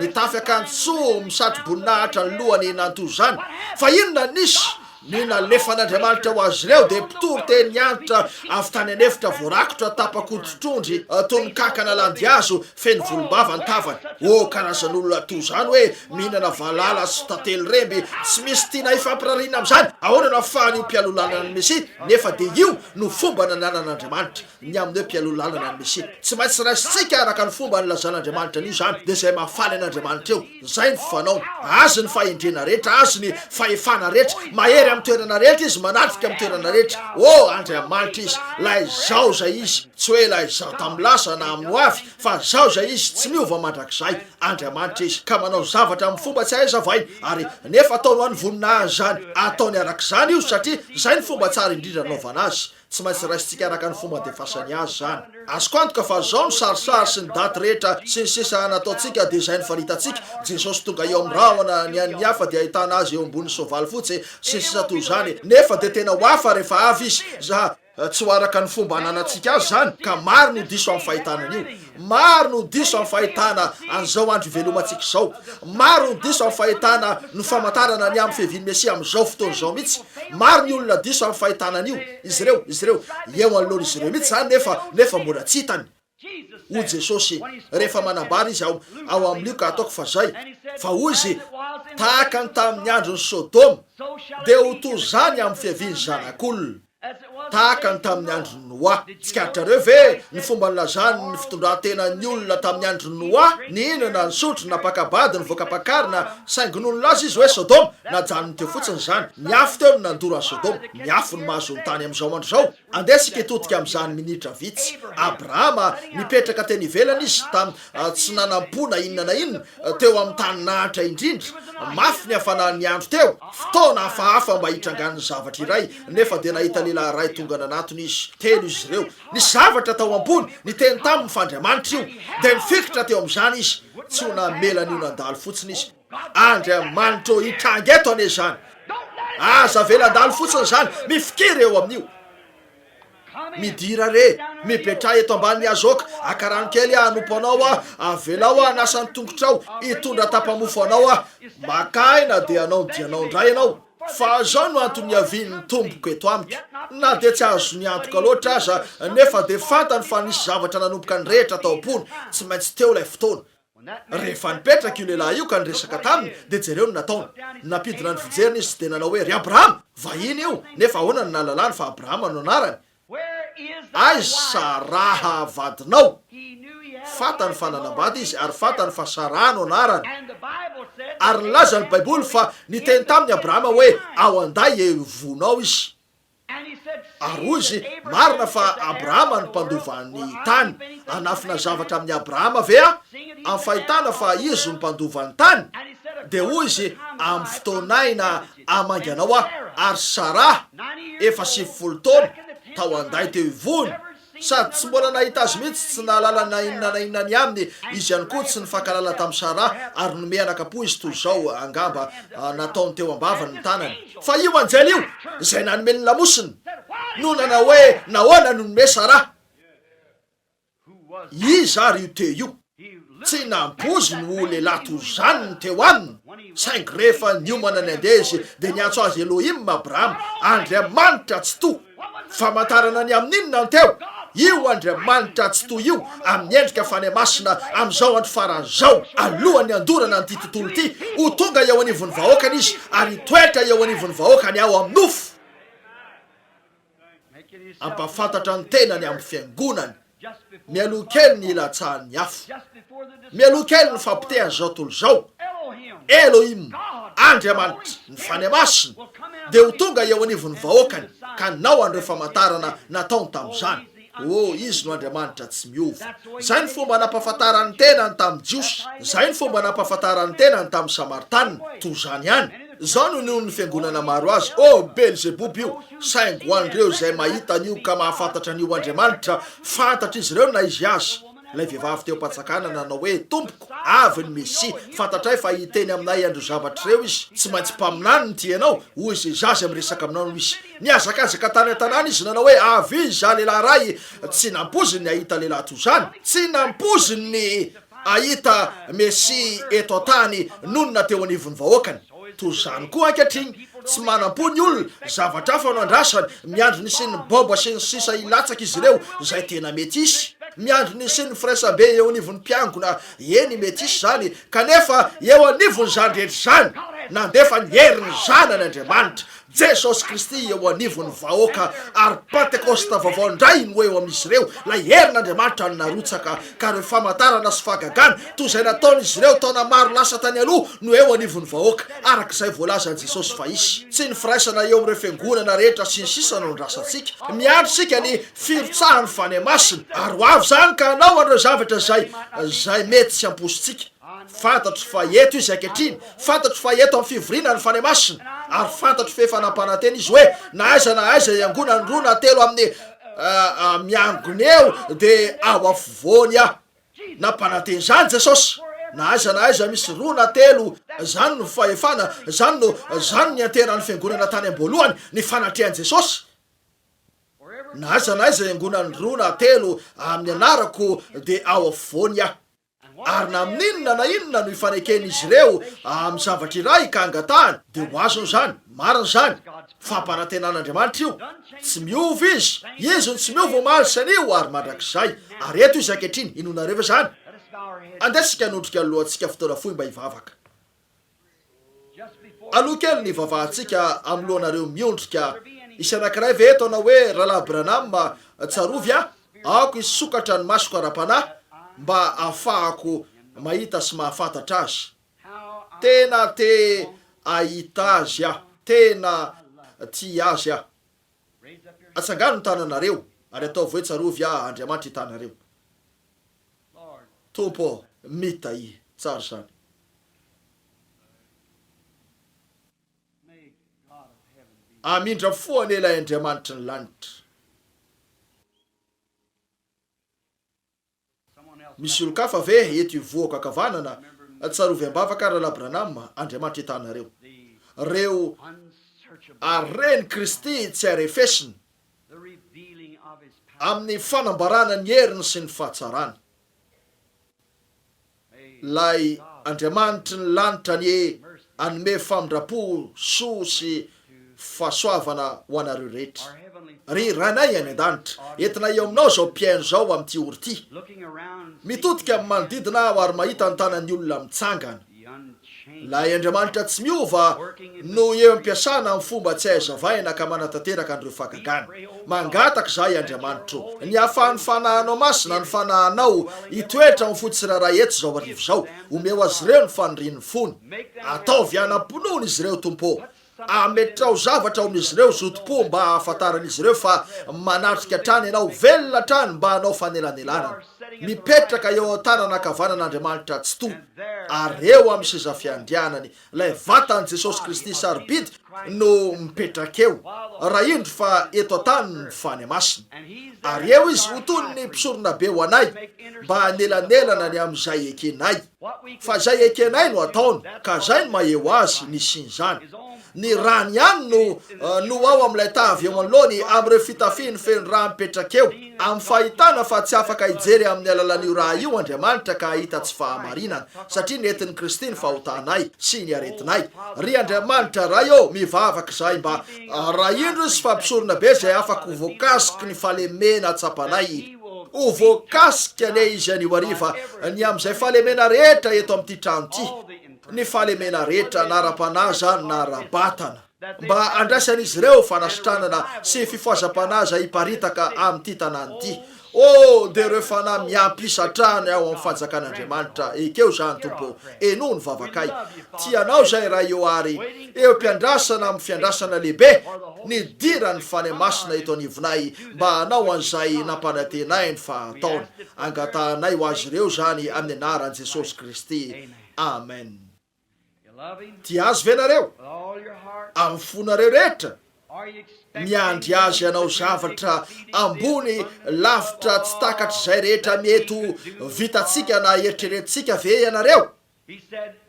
nitafy akanjo tsoho misatro-boninahitra ny lohany nantoa izany. Fa inona no nisy? Ny nalefan'Andriamanitra ho azy ireo dia mpitory teny niantra avy tany an'efitra voarakotra tapa-koditr'ondry toy ny kankana landihazo feno volombava ny tavany. Ô, karazan'olona toa izany hoe mihinana valala sy tantely remby, tsy misy tiana hifampirariana amin'izany! Ahoana no ahafahan'io mpialoha lalana ny Mesia, nefa dia io no fomba nananan'Andriamanitra? ny amin'ny hoe mpialoha lalana ny Mesia. Tsy maintsy raisintsika araka ny fomba nilazan'Andriamanitra an'io izany, dia izay mahafaly an'Andriamanitra eo, izay ny fanaony. Azy ny fahendrena rehetra, Azy ny fahefana rehetra, mahery amin'ny toerana rehetra Izy, manatrika amin'ny toerana rehetra. Oh, Andriamanitra Izy, ilay Izaho izay Izy, tsy hoe ilay Izaho tamin'ny lasa na amin'ny hoavy, fa Izaho izay Izy, tsy miova mandrakizay. Andriamanitra Izy, ka manao zavatra amin'ny fomba tsy ahazavaina, ary nefa ataony ho an'ny voninahiny izany. Ataony araka izany io, satria izay ny fomba tsara indrindra nanaovana Azy. Tsy maintsy raisintsika araka ny fomba andefasany azy izany. Azoko antoka fa izao ny sarisary sy ny daty rehetra sy ny sisa nataontsika dia izay no faritantsika, Jesosy tonga eo amin'ny rahona, ny an'ny hafa dia ahitana Azy eo ambonin'ny soavaly fotsy, sy ny sisa toy izany. Nefa dia tena ho hafa rehefa avy Izy. Za. Tsy ho araka ny fomba ananantsika azy izany, ka maro no diso amin'ny fahitana an'io. Maro no diso amin'ny fahitana an'izao andro ivelomantsika izao. Maro no diso amin'ny fahitana ny famantarana ny amin'ny fiavian'ny Mesia amin'izao fotoana izao mihitsy. Maro ny olona diso amin'ny fahitana an'io. Izy ireo, izy ireo. Eo anoloan'izy ireo mihitsy izany nefa, nefa mbola tsy hitany. Hoy Jesosy, rehefa manambara Izy ao, ao amin'ny Lioka, ataoko fa izay, fa hoy Izy, Tahaka ny tamin'ny andron'i Sodoma, dia ho toy izany amin'ny fiavian'ny Zanak'olona. Tahaka ny tamin'ny andron'i Noa. Tsikaritrareo ve ny fomba nilazan'ny fitondran-tenan'ny olona tamin'ny andron'i Noa? Nihinana, nisotro, napaka-bady, nivoaka-pakarina, saingy nony nilaza izy hoe Sodoma, najanony teo fotsiny izany. Ny afo teo no nandoro an'i Sodoma. Ny afo no mahazo ny tany amin'izao andro izao. Andeha isika hitodika amin'izany minitra vitsy. Abrahama, nipetraka teny ivelany izy, tam, tsy nanam-po na inona na inona, teo amin'ny tany nahantra indrindra. Mafy ny hafanan'ny andro teo. Fotoana hafahafa mba hitrangan'ny zavatra iray. Nefa dia nahita lehilahy iray tonga nanatona izy. Telo izy ireo. Nisy zavatra tao am-pony niteny taminy fa Andriamanitra io. Dia nifikitra teo amin'izany izy. Tsy ho namela an'io nandalo fotsiny izy. Andriamanitra ô, hitranga eto anie izany. Aza avela handalo fotsiny izany. Mifikira eo amin'io. Midira re. Mipetraha eto ambanin'ny hazo ok. Haka rano kely aho hanompo anao aho. Avelao aho hanasa ny tongotrao. Hitondra tapa-mofo anao aho. Maka aina dia hanao ny dianao indray ianao. Fa izao no antony niavian'ny tompoko eto amiko, na dia tsy azony antoka loatra aza, nefa dia fantany fa nisy zavatra nanomboka nirehitra tao am-pony tsy maintsy teo ilay fotoana. Rehefa nipetraka io lehilahy io ka niresaka taminy, dia jereo ny nataony. Nampidina ny fijeriny izy dia nanao hoe, Ry Abrahama! Vahiny io, nefa ahoana no nahalalany fa Abrahama no anarany? Aiza raha vadinao? Fantany fa nanambady izy, ary fantany fa Saraha no anarany. Ary nilaza ny Baiboly fa niteny tamin'i Abrahama hoe, Ao an-day eo io vonao izy. Ary hoy izy, Marina fa Abrahama no mpandova ny tany. Hanafina zavatra amin'i Abrahama ve aho, amin'ny fahitana fa izy no mpandova ny tany? Dia hoy izy, Amin'ny fotoanay na amanganao aho, ary Saraha, efa sivifolo taona, tao an-day teo ivony, sady tsy mbola nahita azy mihitsy, tsy nahalala na inona na inona ny aminy, izy ihany koa tsy nifankalala tamin'i Saraha, ary nomey anakam-po izy toy izao, angamba nataony teo am-bavany ny tanany. Fa io anjely io, izay nanome ny lamosiny, no nanao hoe, Nahoana no nomey Saraha. Iza ary io teo io? Tsy nampoiziny ho lehilahy toy izany ny teo aminy, saingy rehefa niomana nandeha izy, dia niantso azy Elohim Abraham, Andriamanitra Tsitoha. Famantarana ny amin'ny inona ny teo? Io Andriamanitra Tsitoha io, amin'ny endrika fanahy masina, amin'izao andro farany izao, alohan'ny handorana an'ity tontolo ity, ho tonga eo anivon'ny vahoakany izy, ary hitoetra eo anivon'ny vahoakany ao amin'ny nofo. hampahafantatra ny tenany amin'ny fiangonany mialoha kely ny hilatsahan'ny afo, mialoha kely ny fapotehan'izao tontolo izao, Elohim, Andriamanitra, ny Fanahy Masina dia ho tonga eo anivon'ny vahoakany ka nanao an'ireo famantarana nataony tamin'izany. Oh, Izy no Andriamanitra tsy miova. Izay no fomba nampahafantarany ny tenany tamin'ny Jiosy. Izay no fomba nampahafantarany ny tenany tamin'ny Samaritanina. Toy izany ihany. Izao no ninoan'ny fiangonana maro Azy, Oh, Belzeboba io! Saingy ho an'ireo izay mahita an'io ka mahafantatra an'io Andriamanitra, fantatr'izy ireo na izy aza. Ilay vehivavy teo am-panjakana nanao hoe, Tompoko, avy ny Mesia. Fantatray fa hiteny aminay an'ireo zavatra ireo izy. Tsy maintsy mpaminany ny tianao ho izay zaza miresaka aminao no izy. Nihazakazaka tany an-tanàna izy nanao hoe, Avia izaho lehilahy iray. Tsy nampoiziny ny hahita lehilahy toy izany. Tsy nampoiziny ny hahita Mesia eto an-tany nonina teo anivon'ny vahoakany. Toy izany koa ankehitriny, tsy manam-po ny olona, zavatra hafa no andrasany, miandry ny hisian'ny baobab sy ny sisa hilatsaka izy ireo, izay tena mety hisy. Miandry ny hisian'ny firaisambe eo anivon'ny mpiangona, eny mety hisy izany, kanefa eo anivon'izany rehetra izany, nandefa ny herin'ny Zanany Andriamanitra, Jesosy Kristy eo anivon'ny vahoaka ary Pantekosta vaovao indray no eo amin'izy ireo, ilay herin'Andriamanitra no narotsaka, ka ireo famantarana sy fahagagana toy izay nataon'izy ireo taona maro lasa tany aloha no eo anivon'ny vahoaka, araka izay voalazan'i Jesosy fa hisy. Tsy ny firaisana eo amin'ireo fiangonana rehetra sy ny sisa no andrasantsika. Miandry isika ny firotsahan'ny Fanahy Masina, ary ho avy izany ka hanao an'ireo zavatra izay izay mety tsy hamposintsika. Fantatro fa eto Izy ankehitriny, fantatro fa eto amin'ny fivoriana ny Fanahy Masina, ary fantatro fa efa nampanantena Izy hoe na aiza na aiza hiangonan'ny roa na telo amin'ny miangona eo, dia ao afovoany Aho. Nampanantena izany Jesosy. Na aiza na aiza misy roa na telo, izany no fahefana, izany no, izany no nianteheran'ny Fiangonana tany am-boalohany, ny fanatrehan'i Jesosy. Na aiza na aiza hiangonan'ny roa na telo amin'ny Anarako, dia ao afovoany Aho. Ary na amin'ny inona na inona no ifaneken'izy ireo amin'ny zavatra iray ka angatahany, dia ho azony izany. Marina izany. Fampanantenan'Andriamanitra io. Tsy miova Izy. Izy no tsy miova omaly sy anio ary mandrakizay. Ary eto Izy ankehitriny. Inoanareo ve izany? Andeha isika hanondrika ny lohantsika fotoana fohy mba hivavaka. Aloha kely ny vavahantsika anoloanareo miondrika. Misy anankiray ve eto anao hoe, Rahalahy Branham, tsarovy aho, aoka hisokatra ny masoko ara-panahy mba hahafahako mahita sy mahafantatra Azy. Tena te hahita Azy aho. Tena tia Azy aho. Atsangano ny tananareo, ary ataovy hoe, Tsarovy aho, Andriamanitra, i Tanareo. Tompo ô, mitahy. Tsara izany. Hamindra fo anie ilay Andriamanitry ny lanitra. Misy olon-kafa ve eto ivohoko ankavanana? Tsarovy am-bavaka Rahalahy Branham, Andriamanitra itahinareo. Ireo aren'i Kristy tsy arefesina, amin'ny fanambarana ny heriny sy ny fahatsarany. Ilay Andriamanitry ny lanitra anie hanome famindram-po, soa sy fahasoavana ho anareo rehetra. Ry Rainay any An-danitra, entina eo aminao izao mpihaino izao amin'ity ora ity. Mitodika amin'ny manodidina aho ary mahita ny tanan'ny olona mitsangana. Ilay Andriamanitra tsy miova no eo am-piasana amin'ny fomba tsy hay azavaina ka manatanteraka an'ireo fahagagana. Mangataka izahay, Andriamanitra ô, ny hahafahan'ny Fanahinao Masina ny Fanahinao hitoetra ao amin'ny fo tsirairay eto izao hariva izao. Omeo azy ireo ny fanirian'ny fony. Ataovy hanam-pinoana izy ireo, Tompo ô. Ametraho zavatra ao amin'izy ireo zotom-po mba hahafantaran'izy ireo fa manatrika hatrany ianao, velona hatrany mba hanao fanelanelanana. Mipetraka eo amin'ny tanana ankavanan'Andriamanitra Tsitoha ary eo amin'ny seza fiandrianany ilay vatan'i Jesosy Kristy sarobidy no mipetraka eo, raha indro fa eto an-tany ny fany masina. Ary eo izy ho toy ny mpisoronabe ho anay mba hanelanelana ny amin'izay ekenay. Fa izay ekenay no ataony, ka zay no maha-eo azy ny hisian'izany. Ny rany ihany no no ao amin'ilay ta avy eo anoloany amin'ireo fitafiny feno rà mipetraka eo, amin'ny fahitana fa tsy afaka hijery amin'ny alalan'io rà io Andriamanitra ka hahita tsy fahamarinana, satria nentin'i Kristy ny fahotanay sy ny aretinay. Ry Andriamanitra Ray ô, mivavaka izahay mba arahindro sy fampisorona be izay afaka ho voakasiky ny fahalemena tsapanay. Ho voakasika anie izy anio hariva ny amin'izay fahalemena rehetra eto amin'ity trano ity, ny fahalemena rehetra na ara-panahy izany na ara-batana, mba handraisan'izy ireo fanasitranana sy fifohazam-panahy izay hiparitaka amin'ity tanàna ity. Oh, dia ireo fanahy miampy isa hatrany ao amin'ny Fanjakan'Andriamanitra! Ekeo izany, Tompo ô! Henoy ny vavakay. Tia Anao izay, Ray ô, ary eo am-piandrasana amin'ny fiandrasana lehibe nidiran'ny Fanahy Masina eto anivonay, mba hanao an'izay nampanantena ahy ny fahataony. Angatahanay ho azy ireo izany amin'ny anaran'i Jesosy Kristy. Amen. Tia Azy ve nareo? Amin'ny fonareo rehetra? Miandry Azy hanao zavatra ambony lavitra tsy takatr'izay rehetra mety ho vitantsika na eritreretintsika ve ianareo?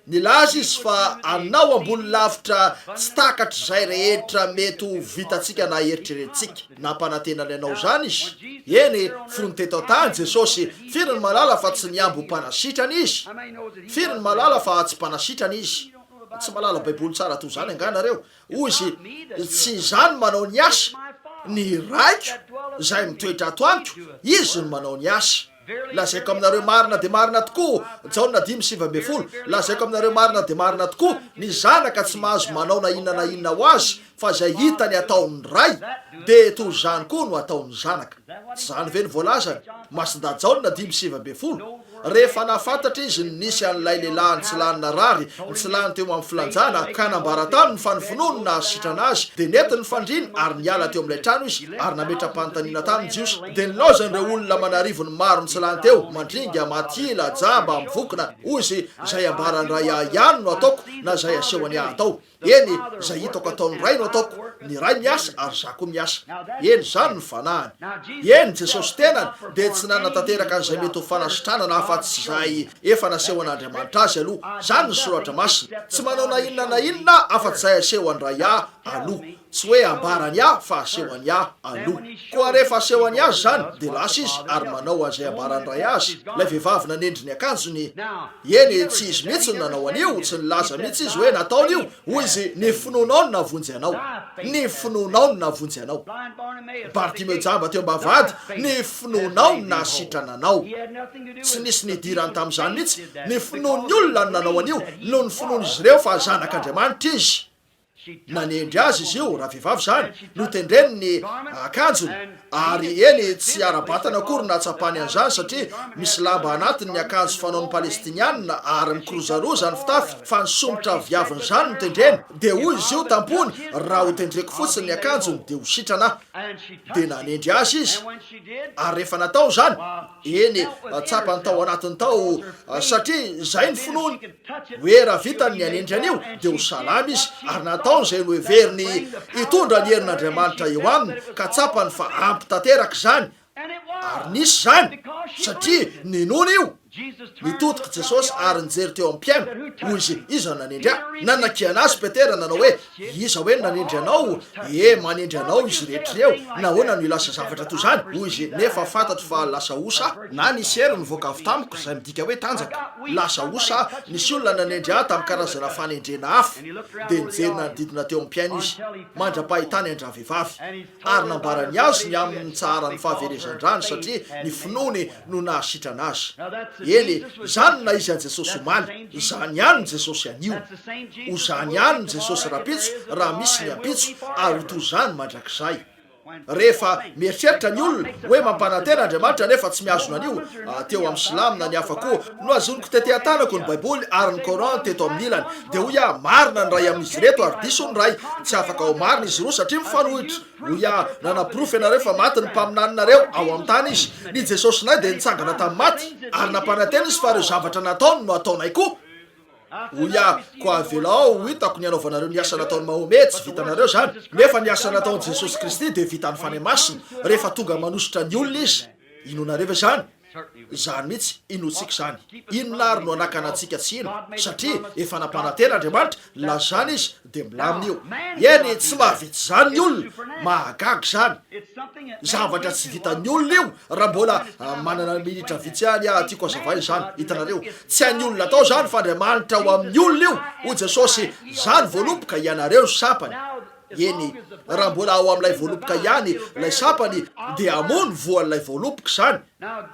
Nilaza izy fa hanao ambony lavitra tsy takatr'izay rehetra mety ho vitantsika na eritreretintsika. Nampanantena ny hanao izany izy. Eny, fony teto an-tany, Jesosy, firy ny mahalala fa tsy nihambo ho mpanasitrana izy? Firy ny mahalala fa tsy mpanasitrana izy? Tsy mahalala Baiboly tsara toy izany angaha nareo? Hoy izy, Tsy izaho no manao ny asa. Ny Raiko izay mitoetra ato amiko, izy no manao ny asa. Lazaiko aminareo marina dia marina tokoa, Jaona dimy sivy ambin'ny folo, Lazaiko aminareo marina dia marina tokoa, Ny Zanaka tsy mahazo manao na inona na inona ho Azy fa izay hitany ataon'ny Ray, dia toy izany koa no hataon'ny Zanaka. Tsy izany ve no voalazany? Masindahy Jaona dimy sivy ambin'ny folo. Rehefa nahafantatra izy ny nisy an'ilay lehilahy nitsilany narary nitsilany teo amin'ny filanjana ka nambara taminy fa ny finoany no nahasitrana azy, dia nety ny fandriana ary niala teo amin'ilay trano izy ary nametra-panontaniana tamin'ny Jiosy. Dia nilaozan'ireo olona aman'arivony maro nitsilany teo, Mandringa, Matila, Jamba, Mivokona, hoy izy, izay ambaran'ny ray ahy ihany no ataoko na izay asehony ahy atao. Eny, izay hitako ataon'ny ray no ataoko, ny ray miasa ary izaho koa miasa. Eny, izany no fanahiny. Eny, Jesosy tenany dia tsy nanatanteraka an'izay mety ho fanasitranana afa-tsy izay efa nasehon'Andriamanitra azy aloha. Izany ny Soratra Masina. Tsy manao na inona na inona afa-tsy izay asehon'ny ray ahy aloha. Tsy hoe ambara ny ahy fa aseho an'i ahy aloha. Koa rehefa aseho an'i azy izany, dia lasa izy ary manao an'izay ambaran'ny ray azy. Ilay vehivavy nanendry ny akanjony. Eny, tsy izy mihitsy no nanao an'io, tsy nilaza mihitsy izy hoe nataony io. Hoy izy, Ny finoanao no navonjy anao. Ny finoanao no navonjy anao. Bartimeo jamba teo am-bavahady, ny finoanao no nahasitrana anao. Tsy nisy nidirany tamin'izany mihitsy. Ny finoan'ny olona no nanao an'io, noho ny finoan'izy ireo fa Zanak'Andriamanitra izy. Nanendry azy izy io, ravehivavy izany, notendreny ny akanjony, ary eny tsy ara-batana akory no nahatsapany an'izany satria misy lamba anatiny ny akanjo fanaon'ny Palestiniana ary mikirozaroza ny fitafiny fa ny somotra viavin'izany no tendreny. Dia hoy izy io tam-pony, Raha ho tendreko fotsiny ny akanjony dia ho sitrana aho. Dia nanendry azy izy, ary rehefa nataony izany, eny, tsapany tao anatiny tao, satria izay ny finoany. Hoe raha vitany ny hanendry an'io, dia ho salama izy, ary nataony izay noheveriny hitondra ny herin'Andriamanitra eo aminy, ka tsapany fa ampy tanteraka izany. Ary nisy izany, satria ninoana io. Nitodika i Jesosy ary nijery teo amin'ny mpihaino. Hoy izy, Iza no nanendry ahy? Nanakiana azy Petera, nanao hoe, Iza hoe nanendry anao? Ee, manendry anao izy rehetra ireo. Nahoana no ilasa zavatra toy izany? Hoy izy, Nefa fantatro fa lasa osa aho, na nisy hery nivoaka avy tamiko, izay midika hoe tanjaka. Lasa osa aho. Nisy olona nanendry ahy tamin'ny karazana fanendrena hafa. Dia nijery nanodidina teo amin'ny mpihaino izy, mandra-pahitany an-dravehivavy. ary nambarany azy ny amin'ny nitsaharany fahaverezan-drany satria ny finoany no nahasitrana azy. Eny e, izany na iza Jesosy omaly, izany ihany ny Jesosy anio. Ho izany ihany ny Jesosy rahampitso raha misy ny ampitso ary ho toy izany mandrakizay. Rehefa mieritreritra ny olona hoe mampanantena Andriamanitra nefa tsy mihazona an'io, teo amin'ny silamo na ny hafa koa, Nohazoniko tety an-tanako ny Baiboly ary ny Coran teto amin'ny ilany. Dia hoy aho, Marina ny iray amin'izy ireto ary diso ny iray. Tsy afaka ho marina izy roa satria mifanohitra. Hoy aho, Nanaporofo ianareo fa maty ny mpaminaninareo ao amin'ny tany izy. Ny Jesosinay dia nitsangana tamin'ny maty ary nampanantena izy fa ireo zavatra nataony no hataonay koa. Hoy aho, Koa avelao ho hitako ny hanaovanareo ny asa nataon'i Mahomet. Tsy vitanareo izany. Nefa ny asa nataon'i Jesosy Kristy dia vitan'ny Fanahy Masina rehefa tonga manosotra ny olona izy. Inoanareo ve izany? Izany mihitsy inoantsika izany. Inona ary no hanakana antsika tsy hino? Satria efa nampanantena Andriamanitra, lazany Izy dia milamina io. Eny, tsy mahavita izany ny olona. Mahagaga izany. Zavatra tsy vitan'ny olona io, raha mbola manana minitra vitsy ihany aho, tiako hazavaina izany, hitanareo. Tsy an'ny olona atao izany, fa Andriamanitra ho amin'ny olona io. Hoy Jesosy, Izaho ny voaloboka, ianareo ny sampany. Eny, raha mbola ao amin'ilay voaloboka ihany ilay sapany dia hamono voan'ilay voaloboka izany.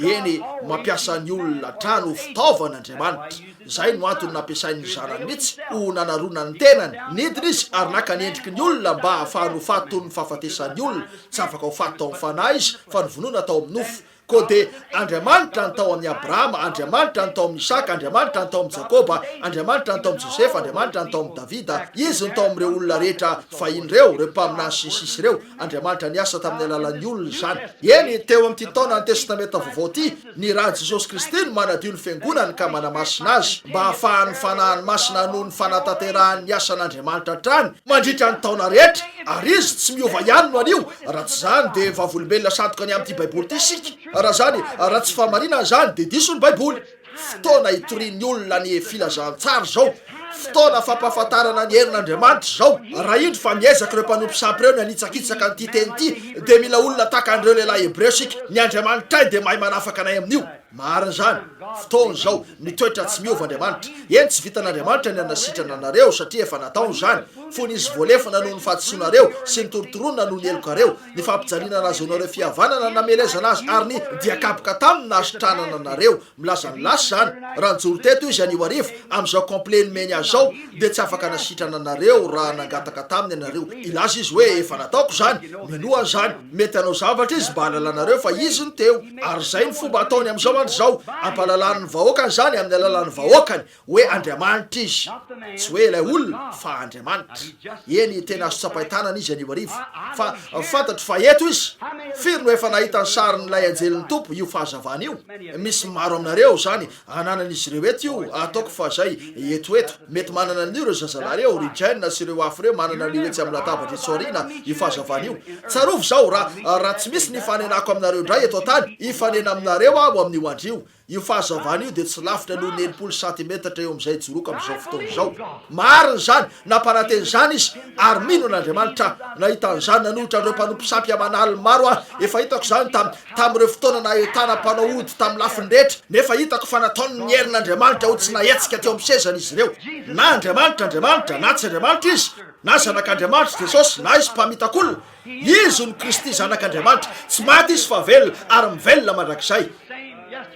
Eny, mampiasa ny olona hatrany ho fitaovana Andriamanitra. Izay no antony nampiasain'ny Zanany mihitsy ho nanarona ny tenany. Nidina izy ary naka ny endriky ny olona mba hahafahany ho faty toy ny fahafatesan'ny olona. Tsy afaka ho faty tao amin'ny fanahy izy fa novonoina tao amin'ny nofo. Koa dia Andriamanitra ny tao amin'i Abrahama, Andriamanitra ny tao amin'i Isaka, Andriamanitra ny tao amin'i Jakoba, Andriamanitra ny tao amin'i Josefa, Andriamanitra ny tao amin'i Davida, Izy no tao amin'ireo olona rehetra fahiny ireo, ireo mpaminany sy ny sisa ireo. Andriamanitra niasa tamin'ny alalan'ny olona izany. Eny, teo amin'ity taonan'ny Testamenta Vaovao ity, ny rà Jesosy Kristy no manadio ny Fiangonany ka manamasina azy, mba hahafahan'ny Fanahiny Masina hanohy ny fanatanterahany ny asan'Andriamanitra hatrany mandritra ny taona rehetra, ary izy tsy miova ihany no anio, raha tsy izany dia vavolombelona sandoka ny amin'ity Baiboly ity isika, raha izany, raha tsy fahamarinana izany dia diso ny Baiboly. Fotoana hitorian'ny olona ny filazantsara izao, fotoana fampahafantarana ny herin'Andriamanitra izao. Raha indro fa miezaka ireo mpanompo sampy ireo ny hanitsakitsaka an'ity teny ity, dia mila olona tahaka an'ireo lehilahy hebreo isika, ny Andriamanitray dia mahay manafaka anay amin'io. Marina izany, fotoana izao, ny toetra tsy miova Andriamanitra. Eny tsy vitan'Andriamanitra ny hanasitrana anareo satria efa nataony izany, fony izy voalefona noho ny fahadisoanareo sy ny torontoronina noho ny helokareo, ny fampijaliana nahazoanareo fihavanana namelezana azy ary ny diakaboka taminy nahasitranana anareo. Milaza ny lasa izany, raha nijoro teto izy anio hariva, amin'izao complet nomeny azy izao dia tsy afaka nasitrana anareo raha nangataka taminy ianareo hilaza izy hoe efa nataoko izany, minoa an'izany. Mety hanao zavatra izy mba hahalalanareo fa izy no teo. Ary izay no fomba ataony amin'izao andro izao, hampahalalany ny vahoakany izany amin'ny alalan'ny vahoakany, hoe Andriamanitra izy. Tsy hoe ilay olona, fa Andriamanitra. Eny, tena azo tsapain-tanana izy anivorivo. Fa fantatro fa eto izy. Firy no efa nahita ny sarin'ilay anjelin'ny Tompo? Io fahazavana io? Misy maro aminareo izany, ananan'izy ireo eto io, ataoko fa zay, eto eto, mety manana an'io ireo zazalahy ireo, ry Jane sy ireo hafa ireo manana an'io etsy amin'ny latabatra etsy aoriana, io fahazavana io. Tsarovy izao, raha, raha tsy misy ny hifanenako aminareo indray eto an-tany, hifanena aminareo Aho amin'io andro io. Io fahazavana io dia tsy lavitra noho ny enimpolo santimetatra eo amin'izay ijoroako amin'izao fotoana izao. Marina izany, nampanantena izany Izy, ary mino an'Andriamanitra Aho. Nahita an'izany nanohitra an'ireo mpanompo sampy aman'aliny maro Aho, efa hitako izany tamin'ny, tamin'ireo fotoana nahitana mpanao ody tamin'ny lafiny rehetra, nefa hitako fa nataony ny herin'Andriamanitra ho tsy nahetsika teo amin'ny sezany izy ireo. Na Andriamanitra Andriamanitra, na tsy Andriamanitra Izy, na Zanak'Andriamanitra Jesosy, na Izy mpamitak'olona, Izy no Kristy Zanak'Andriamanitra, tsy maty Izy fa velona ary mivelona mandrakizay.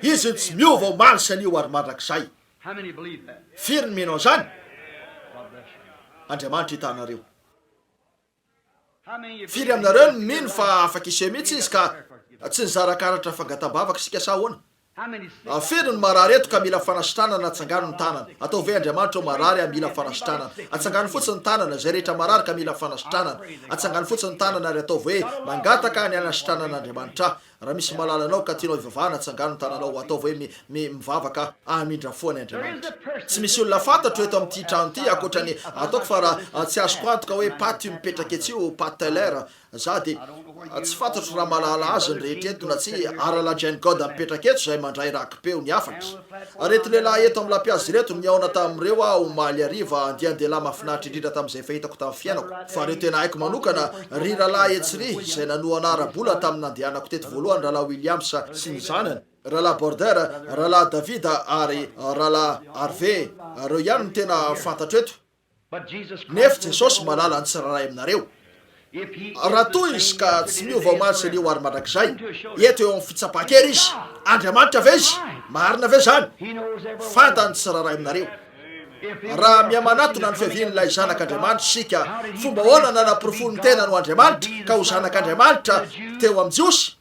Izy no tsy miova omaly sy anio ary mandrakizay. Firy no mino an'izany? Andriamanitra hitanareo. Firy aminareo no mino fa afa-k'ise mihitsy izy ka tsy nizara karatra fangatambavaka isika sa ahoana? Firy no marary eto ka mila fanasitranana atsangano ny tanana? Atao ve Andriamanitra ho marary ary mila fanasitranana? Atsangano fotsiny ny tanana izay rehetra marary ka mila fanasitranana. Atsangano fotsiny ny tanana ary ataovy hoe mangataka ny hanasitranan'Andriamanitra aho. Raha misy malala anao ka tianao hivavahana tsangano ny tananao ataovy hoe mi mi mivavaka aho hamindra fo any Andriamanitra. Tsy misy olona fantatro eto amin'ity trano ity ankoatra ny ataoko fa raha tsy azoko antoka hoe Pat io mipetraka etsy io, Pat Teller, za dia tsy fantatro raha malala azy ny rehetra eto na tsia, Ara-la Jane Godd mipetraka eto izay mandray raki-peo ny hafatra. Ireto lehilahy eto amin'ny lampihazo ireto no nihaona tamin'ireo aho omaly hariva, andian-dehilahy mahafinaritra indrindra tamin'izay fahitako tamin'ny fiainako. Fa ireo tena haiko manokana, ry rahalahy etsy ry, izay nanohana ara-bola tamin'ny nandehanako teto voalohany, Rahalahy Williams sy ny zanany, Rahalahy Border, Rahalahy David ary Rahalahy Harvey, ireo ihany no tena fantatro eto. Nefo Jesosy malala ny tsirairay aminareo. Raha toa Izy ka tsy miova omaly sy anio ary mandrakizay, eto eo amin'ny fitsapan-kery Izy. Andriamanitra ve Izy? Marina ve izany? Fantany ny tsirairay aminareo. Raha mihamanatona ny fiavian'ilay Zanak'Andriamanitra isika, fomba ahoana nanaporofony ny tenany ho Andriamanitra ka ho Zanak'Andriamanitra teo amin'ny Jiosy?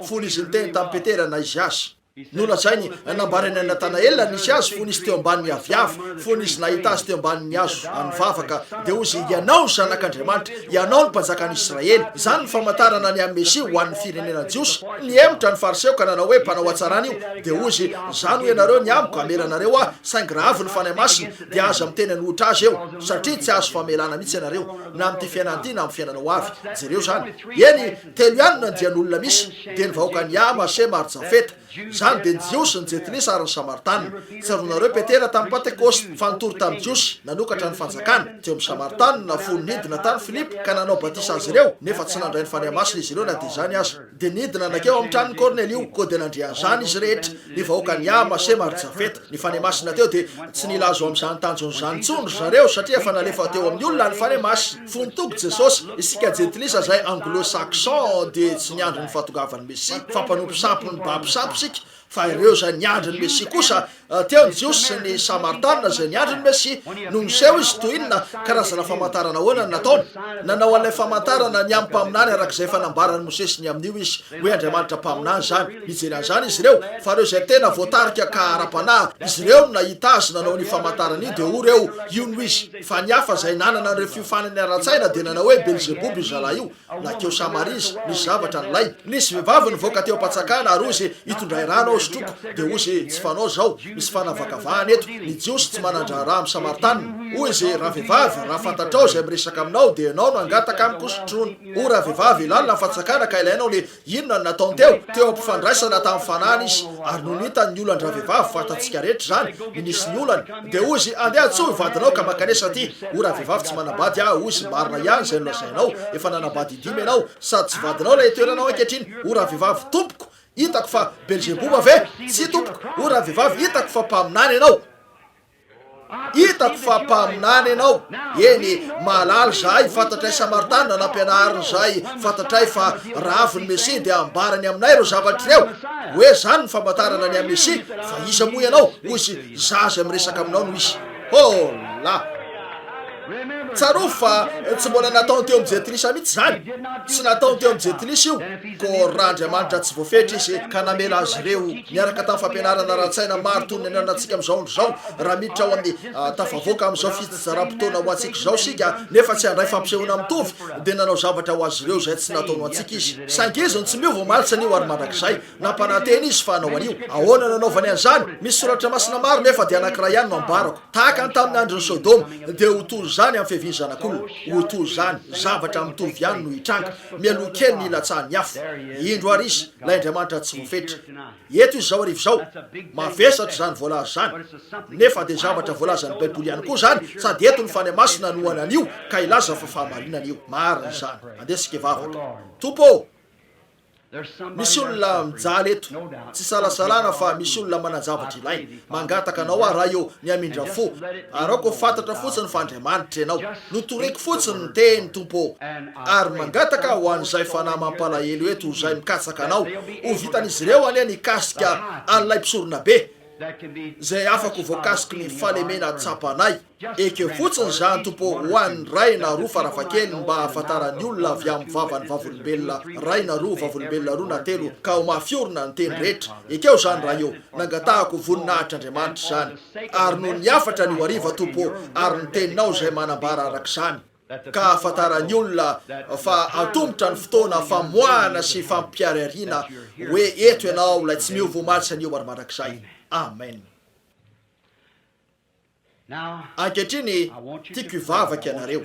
Fony Izy niteny tamin'i Petera na Izy Azy. Nolazainy, nambaran'i Natanaela nisy azy fony izy teo ambanin'ny aviavy, fony izy nahita azy teo ambanin'ny hazo nivavaka, dia hozy, Ianao Zanak'Andriamanitra, Ianao no Mpanjakan'i Israely. Izany no famantarana ny an'ny Mesia ho an'ny firenena jiosy. Nihemotra ny Fariseo ka nanao hoe, Mpanao hatsarana io. Dia hozy, Izany hoy ianareo ny amiko, Hamela anareo aho, saingy raha avy ny Fanahy Masina, dia aza miteny an'ohitra azy eo, satria tsy hahazo famelana mihitsy ianareo, na amin'ity fiainana ity na amin'ny fiainana ho avy. Jereo izany. Eny. Telo ihany ny andian'olona misy, dia ny vahoakan'i Ham, Hasema ary Jafeta. Izany dia ny Jiosy, ny Jentilisa ary ny Samaritana. Tsaroanareo Petera tamin'ny Pantekôsta fa nitory tamin'ny Jiosy nanokatra ny Fanjakana. Teo amin'ny Samaritana na fony nidina tany Filipo ka nanao batisa azy ireo nefa tsy nandray ny Fanahy Masina izy ireo na dia izany aza. Dia nidina nankeo amin'ny tranon'i Kornelio koa dia nandre an'izany izy rehetra, ny vahoakan'i Ham, Hasema ary Jafeta. Ny fanahy masina teo dia tsy nila azo amin'izany tanjona izany intsony ry zareo satria efa nalefa teo amin'ny olona ny fanahy masina. Fony toko Jesosy, isika jentilisa izay anglo-saxon dia tsy niandry ny fahatongavan'ny Mesia fa mpanompo sampy nibaby sampy isika fa ireo izay niandry ny Mesia kosa teo ny Jiosy sy ny Samaritana izay niandry ny Mesia. Nony niseho Izy toy inona? Karazana famantarana ahoana no nataony? Nanao an'ilay famantarana ny amin'ny mpaminany arak'izay efa nambaran'i Mosesy ny amin'io Izy. Hoe Andriamanitra Mpaminany izany. Nijery an'izany izy ireo, fa ireo izay tena voatarika ka ara-panahy, izy ireo no nahita Azy nanao an'io famantarana io, dia hoy ireo, Io no Izy. Fa ny hafa izay nanana an'ireo fiofanany ara-tsaina dia nanao hoe, Belzeboba io zalahy io. Nakeo Samaria Izy. Nisy zavatra nilainy. Nisy vehivavy nivoaka teo am-pantsakana ary hoy izy, Hitondray rano aho sotroiko. Dia hoy izy, Tsy fanao izao. Misy fanavakavahana eto. Ny Jiosy tsy manan-draharaha amin'ny Samaritanina. Hoy izy, Ravehivavy, raha fantatrao izay miresaka aminao, dia ianao no hangataka amiko sotroina. O ravehivavy, lalina ny fatsakana ka ilainao le inona no nataony teo? Teo ampifandraisana tamin'ny fanahiny izy ary nony hitany ny olan-dravehivavy, fantatsika rehetra izany ny nisy ny olany, dia hoy izy andeha antsoy ny vadinao ka mankanesa aty. O ravehivavy tsy manambady aho, hoy izy marina ihany izay nolazainao, efa nanambady indimy ianao, sady tsy vadinao ilay itoeranao ankehitriny. O ravehivavy, tompoko, hitako fa belzeboba ve? Tsia tompoko. O ravehivavy, hitako fa mpaminany ianao. Hitako fa mpaminany ianao. Eny, mahalala izahay fantatray Samaritana nampianariny izay fantatray fa raha avy ny Mesia dia hambarany aminay ireo zavatra ireo. Hoe izany ny famantarana ny Mesia fa iza moa ianao? Hoy izy, Zaza miresaka aminao no izy. Hola! Tsarovy fa tsy mbola nataony teo amin'i Jetilisa mihitsy izany. Tsy nataony teo amin'i Jetilisa io, koa raha Andriamanitra tsy voafetra izy ka namela azy ireo niaraka tamin'ny fampianarana ara-tsaina maro toy ny anarantsika amin'izao andro izao, raha miditra ao amin'ny tafavoaka amin'izao fitsijaram-potoana ho antsika izao isika nefa tsy handray fampisehoana mitovy, dia nanao zavatra ho azy ireo izay tsy nataony ho antsika izy. Saingy izy no tsy miova omaly sy anio ary mandrakizay. Nampanantena izy fa hanao an'io. Ahoana no hanaovany an'izany? Misy soratra masina maro nefa dia anankiray ihany no ambarako. Tahaka ny tamin'ny andron'i Sodoma, dia ho toy izany amin'ny fiavian'ny Zanak'olona. Ho toy izany. Zavatra mitovy ihany no hitranga. Mialoha kely ny hilatsahan'ny afo. Indro àry izy, ilay Andriamanitra tsy voafetra. Eto izy izao arivo izao. Mavesatra izany voalaza izany. Nefa dia zavatra voalazan'ny Baiboly ihany koa izany, sady eto ny Fanahy Masina hanohana an'io ka hilaza fa fahamarinana io. Marina izany. Andeha isika hivavaka. Tompo ô! Misy olona mijaly eto, tsy salasalana fa misy olona manan-javatra ilainy. Mangataka anao aho Ray ô, mihamindra fo, araoko ho fantatra fotsiny fa Andriamanitra Ianao. Notoriko fotsiny ny Teny, Tompo ô. Ary mangataka ho an'izay fanahy mampalahelo eto izay mikatsaka Anao, ho vitan'izy ireo anie ny kasika an'ilay Mpisoronabe, izay afaka ho voakasiky ny fahalemena tsapanay. Ekeo fotsiny izany Tompo ô, ho an'ny iray na roa farafahakeliny mba hahafantaran'ny olona avy amin'ny vavan'ny vavolombelona iray na roa, vavolombelona roa na telo ka ho mafy orina ny teny rehetra. Ekeo izany Ray ô. Nangatahako voninahitr'Andriamanitra izany. Ary noho ny hafatra anio hariva Tompo ô, ary ny Teninao izay manambara araka izany, ka hahafantaran'ny olona fa antomotra ny fotoana famoahana sy fampiharihariana hoe eto Ianao ilay tsy miova omaly sy anio ary mandrakizay. Amen. Ankehitriny, tiako hivavaka ianareo.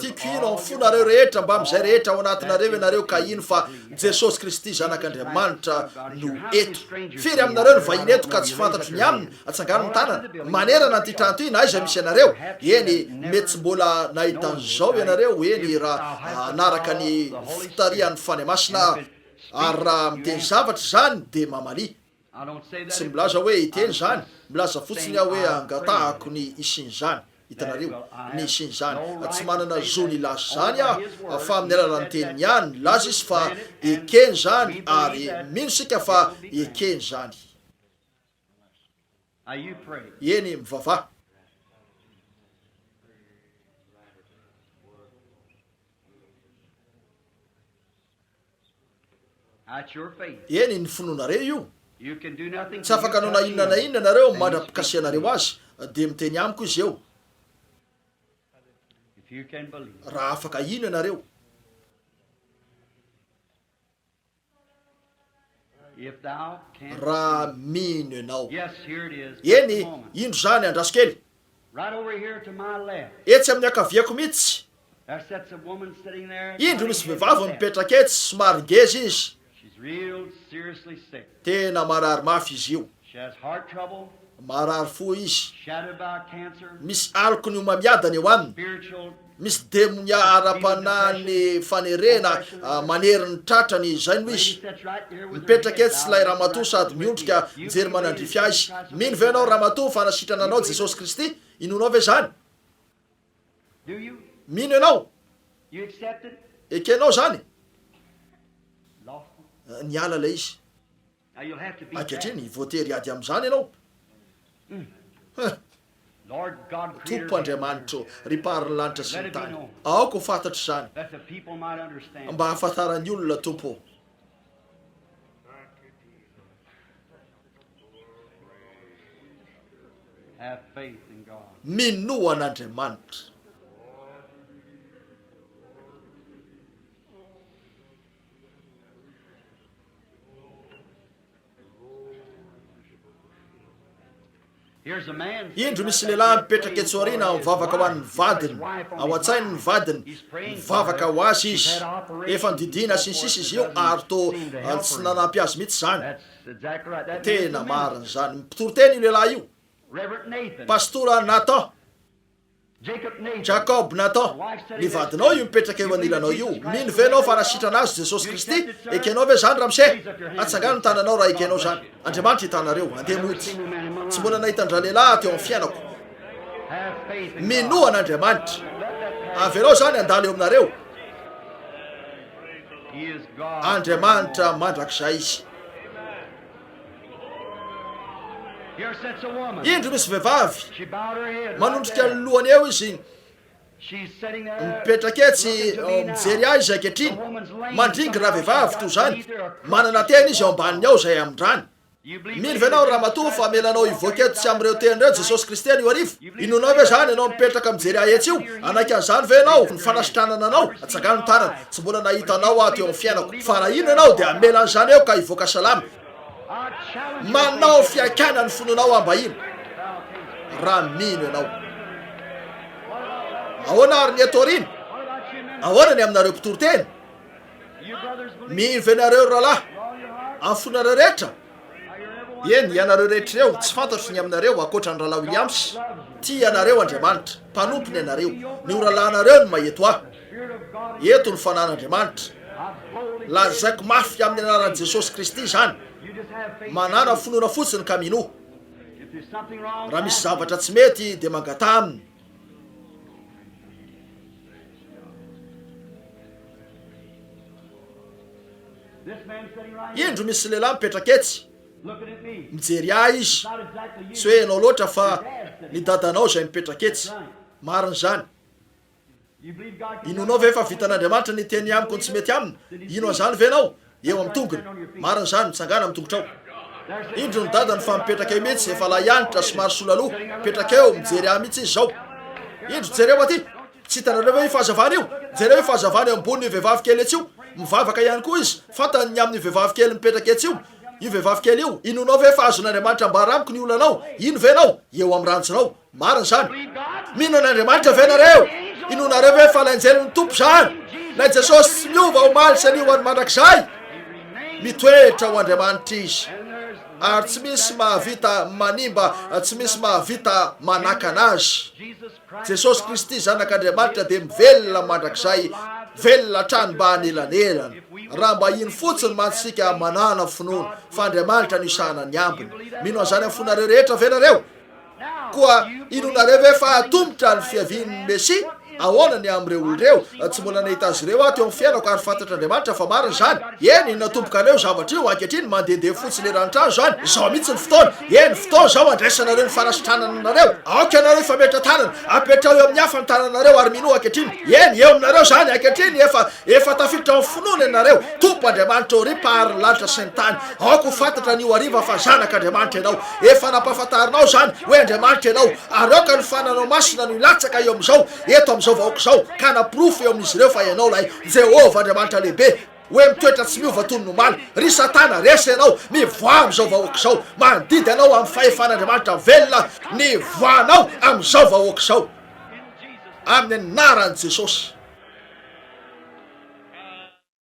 Tiako hino amin'ny fonareo rehetra, mbamin'izay rehetra ao anatinareo ianareo, ka hino fa Jesosy Kristy, Zanak'Andriamanitra, no eto. Firy aminareo no vahiny eto ka tsy fantatro ny aminy? Atsangano ny tanana. Manerana an'ity trano ity, na aiza misy anareo. Eny, mety tsy mbola nahita an'izao ianareo, eny, raha hanaraka ny fitarihan'ny Fanahy Masina aho. Ary raha miteny zavatra izany, dia mamalia. Tsy milaza hoe hiteny izany, milaza fotsiny aho hoe angatahako ny hisian'izany. Hitanareo? Ny hisian'izany. Tsy manana zo ny hilaza izany aho, fa amin'ny alalan'ny Teniny ihany. Nilaza Izy fa ekeny izany, ary mino isika fa ekeny izany. Eny, mivavaha. Eny, ny finoanareo io. Tsy afaka hanao na inona na inona ianareo mandra-pikasihanareo azy, dia miteny amiko izy eo. Raha afaka hino ianareo. raha mino ianao. Eny, indro izany, andraso kely. Etsy amin'ny ankaviako mihitsy, indro misy vehivavy mipetraka etsy, somary ngeza izy. Tena marary mafy izy io. Marary fo izy. Misy aloky ny homamiadana eo aminy. Misy demonia ara-panahy ny fanerena manery ny tratrany, izay no izy. Mipetraka etsy ilay ramatoa sady miondrika mijery manandrify azy. Mino ve ianao ramatoa fa nasitrana anao Jesosy Kristy? Inoanao ve izany? Mino ianao? Ekenao izany? Niala ilay izy. Ankehitriny, voatery hiady amin'izany ianao. Huh! Tompo Andriamanitro, ry Mpaharin'ny lanitra sy ny tany, aoka ho fantatro izany, mba hahafantaran'ny olona, Tompo ô. Minoa an'Andriamanitra. Indro misy lehilahy mipetraka etsy aoriana mivavaka ho an'ny vadiny, ao an-tsainy ny vadiny, mivavaka ho azy izy. Efa nodidiana sy ny sisa izy io ary toa tsy nanampy azy mihitsy izany. Tena marina izany. Mpitoriteny io lehilahy io, Pastora Nathan. Jakob Nathan, ny vadinao io mipetraka eo anilanao io, mino ve ianao fa nasitrana azy Jesosy Kristy? Ekenao ve izany Ramsey? Atsangano ny tananao raha ekenao izany. Andriamanitra hitanareo. Andeha mody. Tsy mbola nahita an-dralehilahy teo amin'ny fiainako. Minoa an'Andriamanitra. Avelao izany handalo eo aminareo. Andriamanitra mandrakizay Izy. Indro misy vehivavy, manondrika ny lohany eo izy, mipetraka etsy mijery ahy izy ankehitriny, mandringy ravehivavy toy izany, manana teny izy ao ambaniny ao izay amin-drany. Mino ve ianao Ramatoa fa hamela anao hivoaka eto tsy amin'ireo teny ireo Jesosy Kristy anio hariva? Inona ve zany ianao mipetraka mijery ahy etsy io? Hanaiky an'izany ve ianao? Ny fanasitranana anao? Atsangano ny tarany. Tsy mbola nahita anao aho teo amin'ny fiainako. Fa raha inona ianao dia hamela an'izany eo ka hivoaka salama. Manao fiaikana ny finoanao aho mba hino. Raha mino ianao. Ahoana ary ny eto aoriana? Ahoana ny aminareo mpitoriteny? Mino ve nareo ry rahalahy? Amin'ny fonareo rehetra? Eny, ianareo rehetra ireo, tsy fantatro ny aminareo ankoatra an'i Rahalahy Williams, tia anareo Andriamanitra, mpanompony anareo, ny oralahinareo no maheto ahy. Eto ny Fanahin'Andriamanitra. Lazaiko mafy amin'ny anaran'i Jesosy Kristy izany. Manàna finoana fotsiny ka minoa. Raha misy zavatra tsy mety, dia mangataha Aminy. Indro misy lehilahy mipetraka etsy, mijery ahy izy. Tsy hoe ianao loatra fa ny dadanao izay mipetraka etsy. Marina izany. Inoanao ve fa vitan'Andriamanitra ny hiteny amiko ny tsy mety aminy? Hino an'izany ve ianao? Eo amin'ny tongony. Marina izany, mitsangàna amin'ny tongotrao. Indro ny dadany fa mipetraka eo mihitsy, efa lahy antitra, somary sola loha, mipetraka eo, mijery ahy mihitsy izy izao. Indro, jereo aty! Tsy hitanareo ve io fahazavana io? Jereo io fahazavana eo ambonin'io vehivavy kely etsy io. Mivavaka ihany koa izy, fantany ny amin'io vehivavy kely mipetraka etsy io. Io vehivavy kely io, inoanao ve fa azon'Andriamanitra ambara amiko ny olanao? Hino ve ianao? Eo amin'ny ranjinao. Marina izany. Mino an'Andriamanitra ve nareo? Inoanareo ve fa lay anjelin'ny Tompo izany? Lay Jesosy tsy miova omaly sy anio ho any mandrakizay. Mitoetra ho Andriamanitra izy. Ary tsy misy mahavita manimba, tsy misy mahavita manakana azy. Jesosy Kristy zanak'Andriamanitra dia mivelona mandrakizay, velona hatrany mba hanelanelana. Raha mba iny fotsiny mantsy isika manana finoana fa Andriamanitra no isahana ny ambiny. Mino an'izany amin'ny fonareo rehetra ve nareo? Koa inoanareo ve fa hahatomotra ny fiavian'ny Mesia? Ahoana ny amin'ireo olona ireo? Tsy mbola nahita azy ireo aho teo amin'ny fiainako, ary fantatr'Andriamanitra fa marina izany. Eny, natomboka anio io zavatra io, ankehitriny mandehandeha fotsiny eran'ny trano izany. Izao mihitsy ny fotoana. Eny, fotoana izao handraisanareo ny fanasitranana anareo. Aoka ianareo hifametra tanana. Apetraho eo amin'ny hafa ny tananareo, ary minoa ankehitriny. Eny, eo aminareo izany ankehitriny. Efa, efa tafiditra ao amin'ny finoana ianareo. Tompo Andriamanitra ô, ry Mpaharin'ny lanitra sy ny tany, aoka ho fantatra anio hariva fa zanak'Andriamanitra ianao. Efa nampahafantarinao izany hoe Andriamanitra ianao, ary aoka ny fananao masina no hilatsaka eo amin'izao, eto amin'izao vahoaka izao, ka hanaporofo eo amin'izy ireo fa ianao ilay Jehovah Andriamanitra lehibe, hoe mitoetra tsy miova toy ny omaly. Ry Satana, resy ianao! Mivoaha amin'izao vahoaka izao! Mandidy anao amin'ny fahefan'Andriamanitra velona ny voanao amin'izao vahoaka izao, amin'ny anaran'i Jesosy.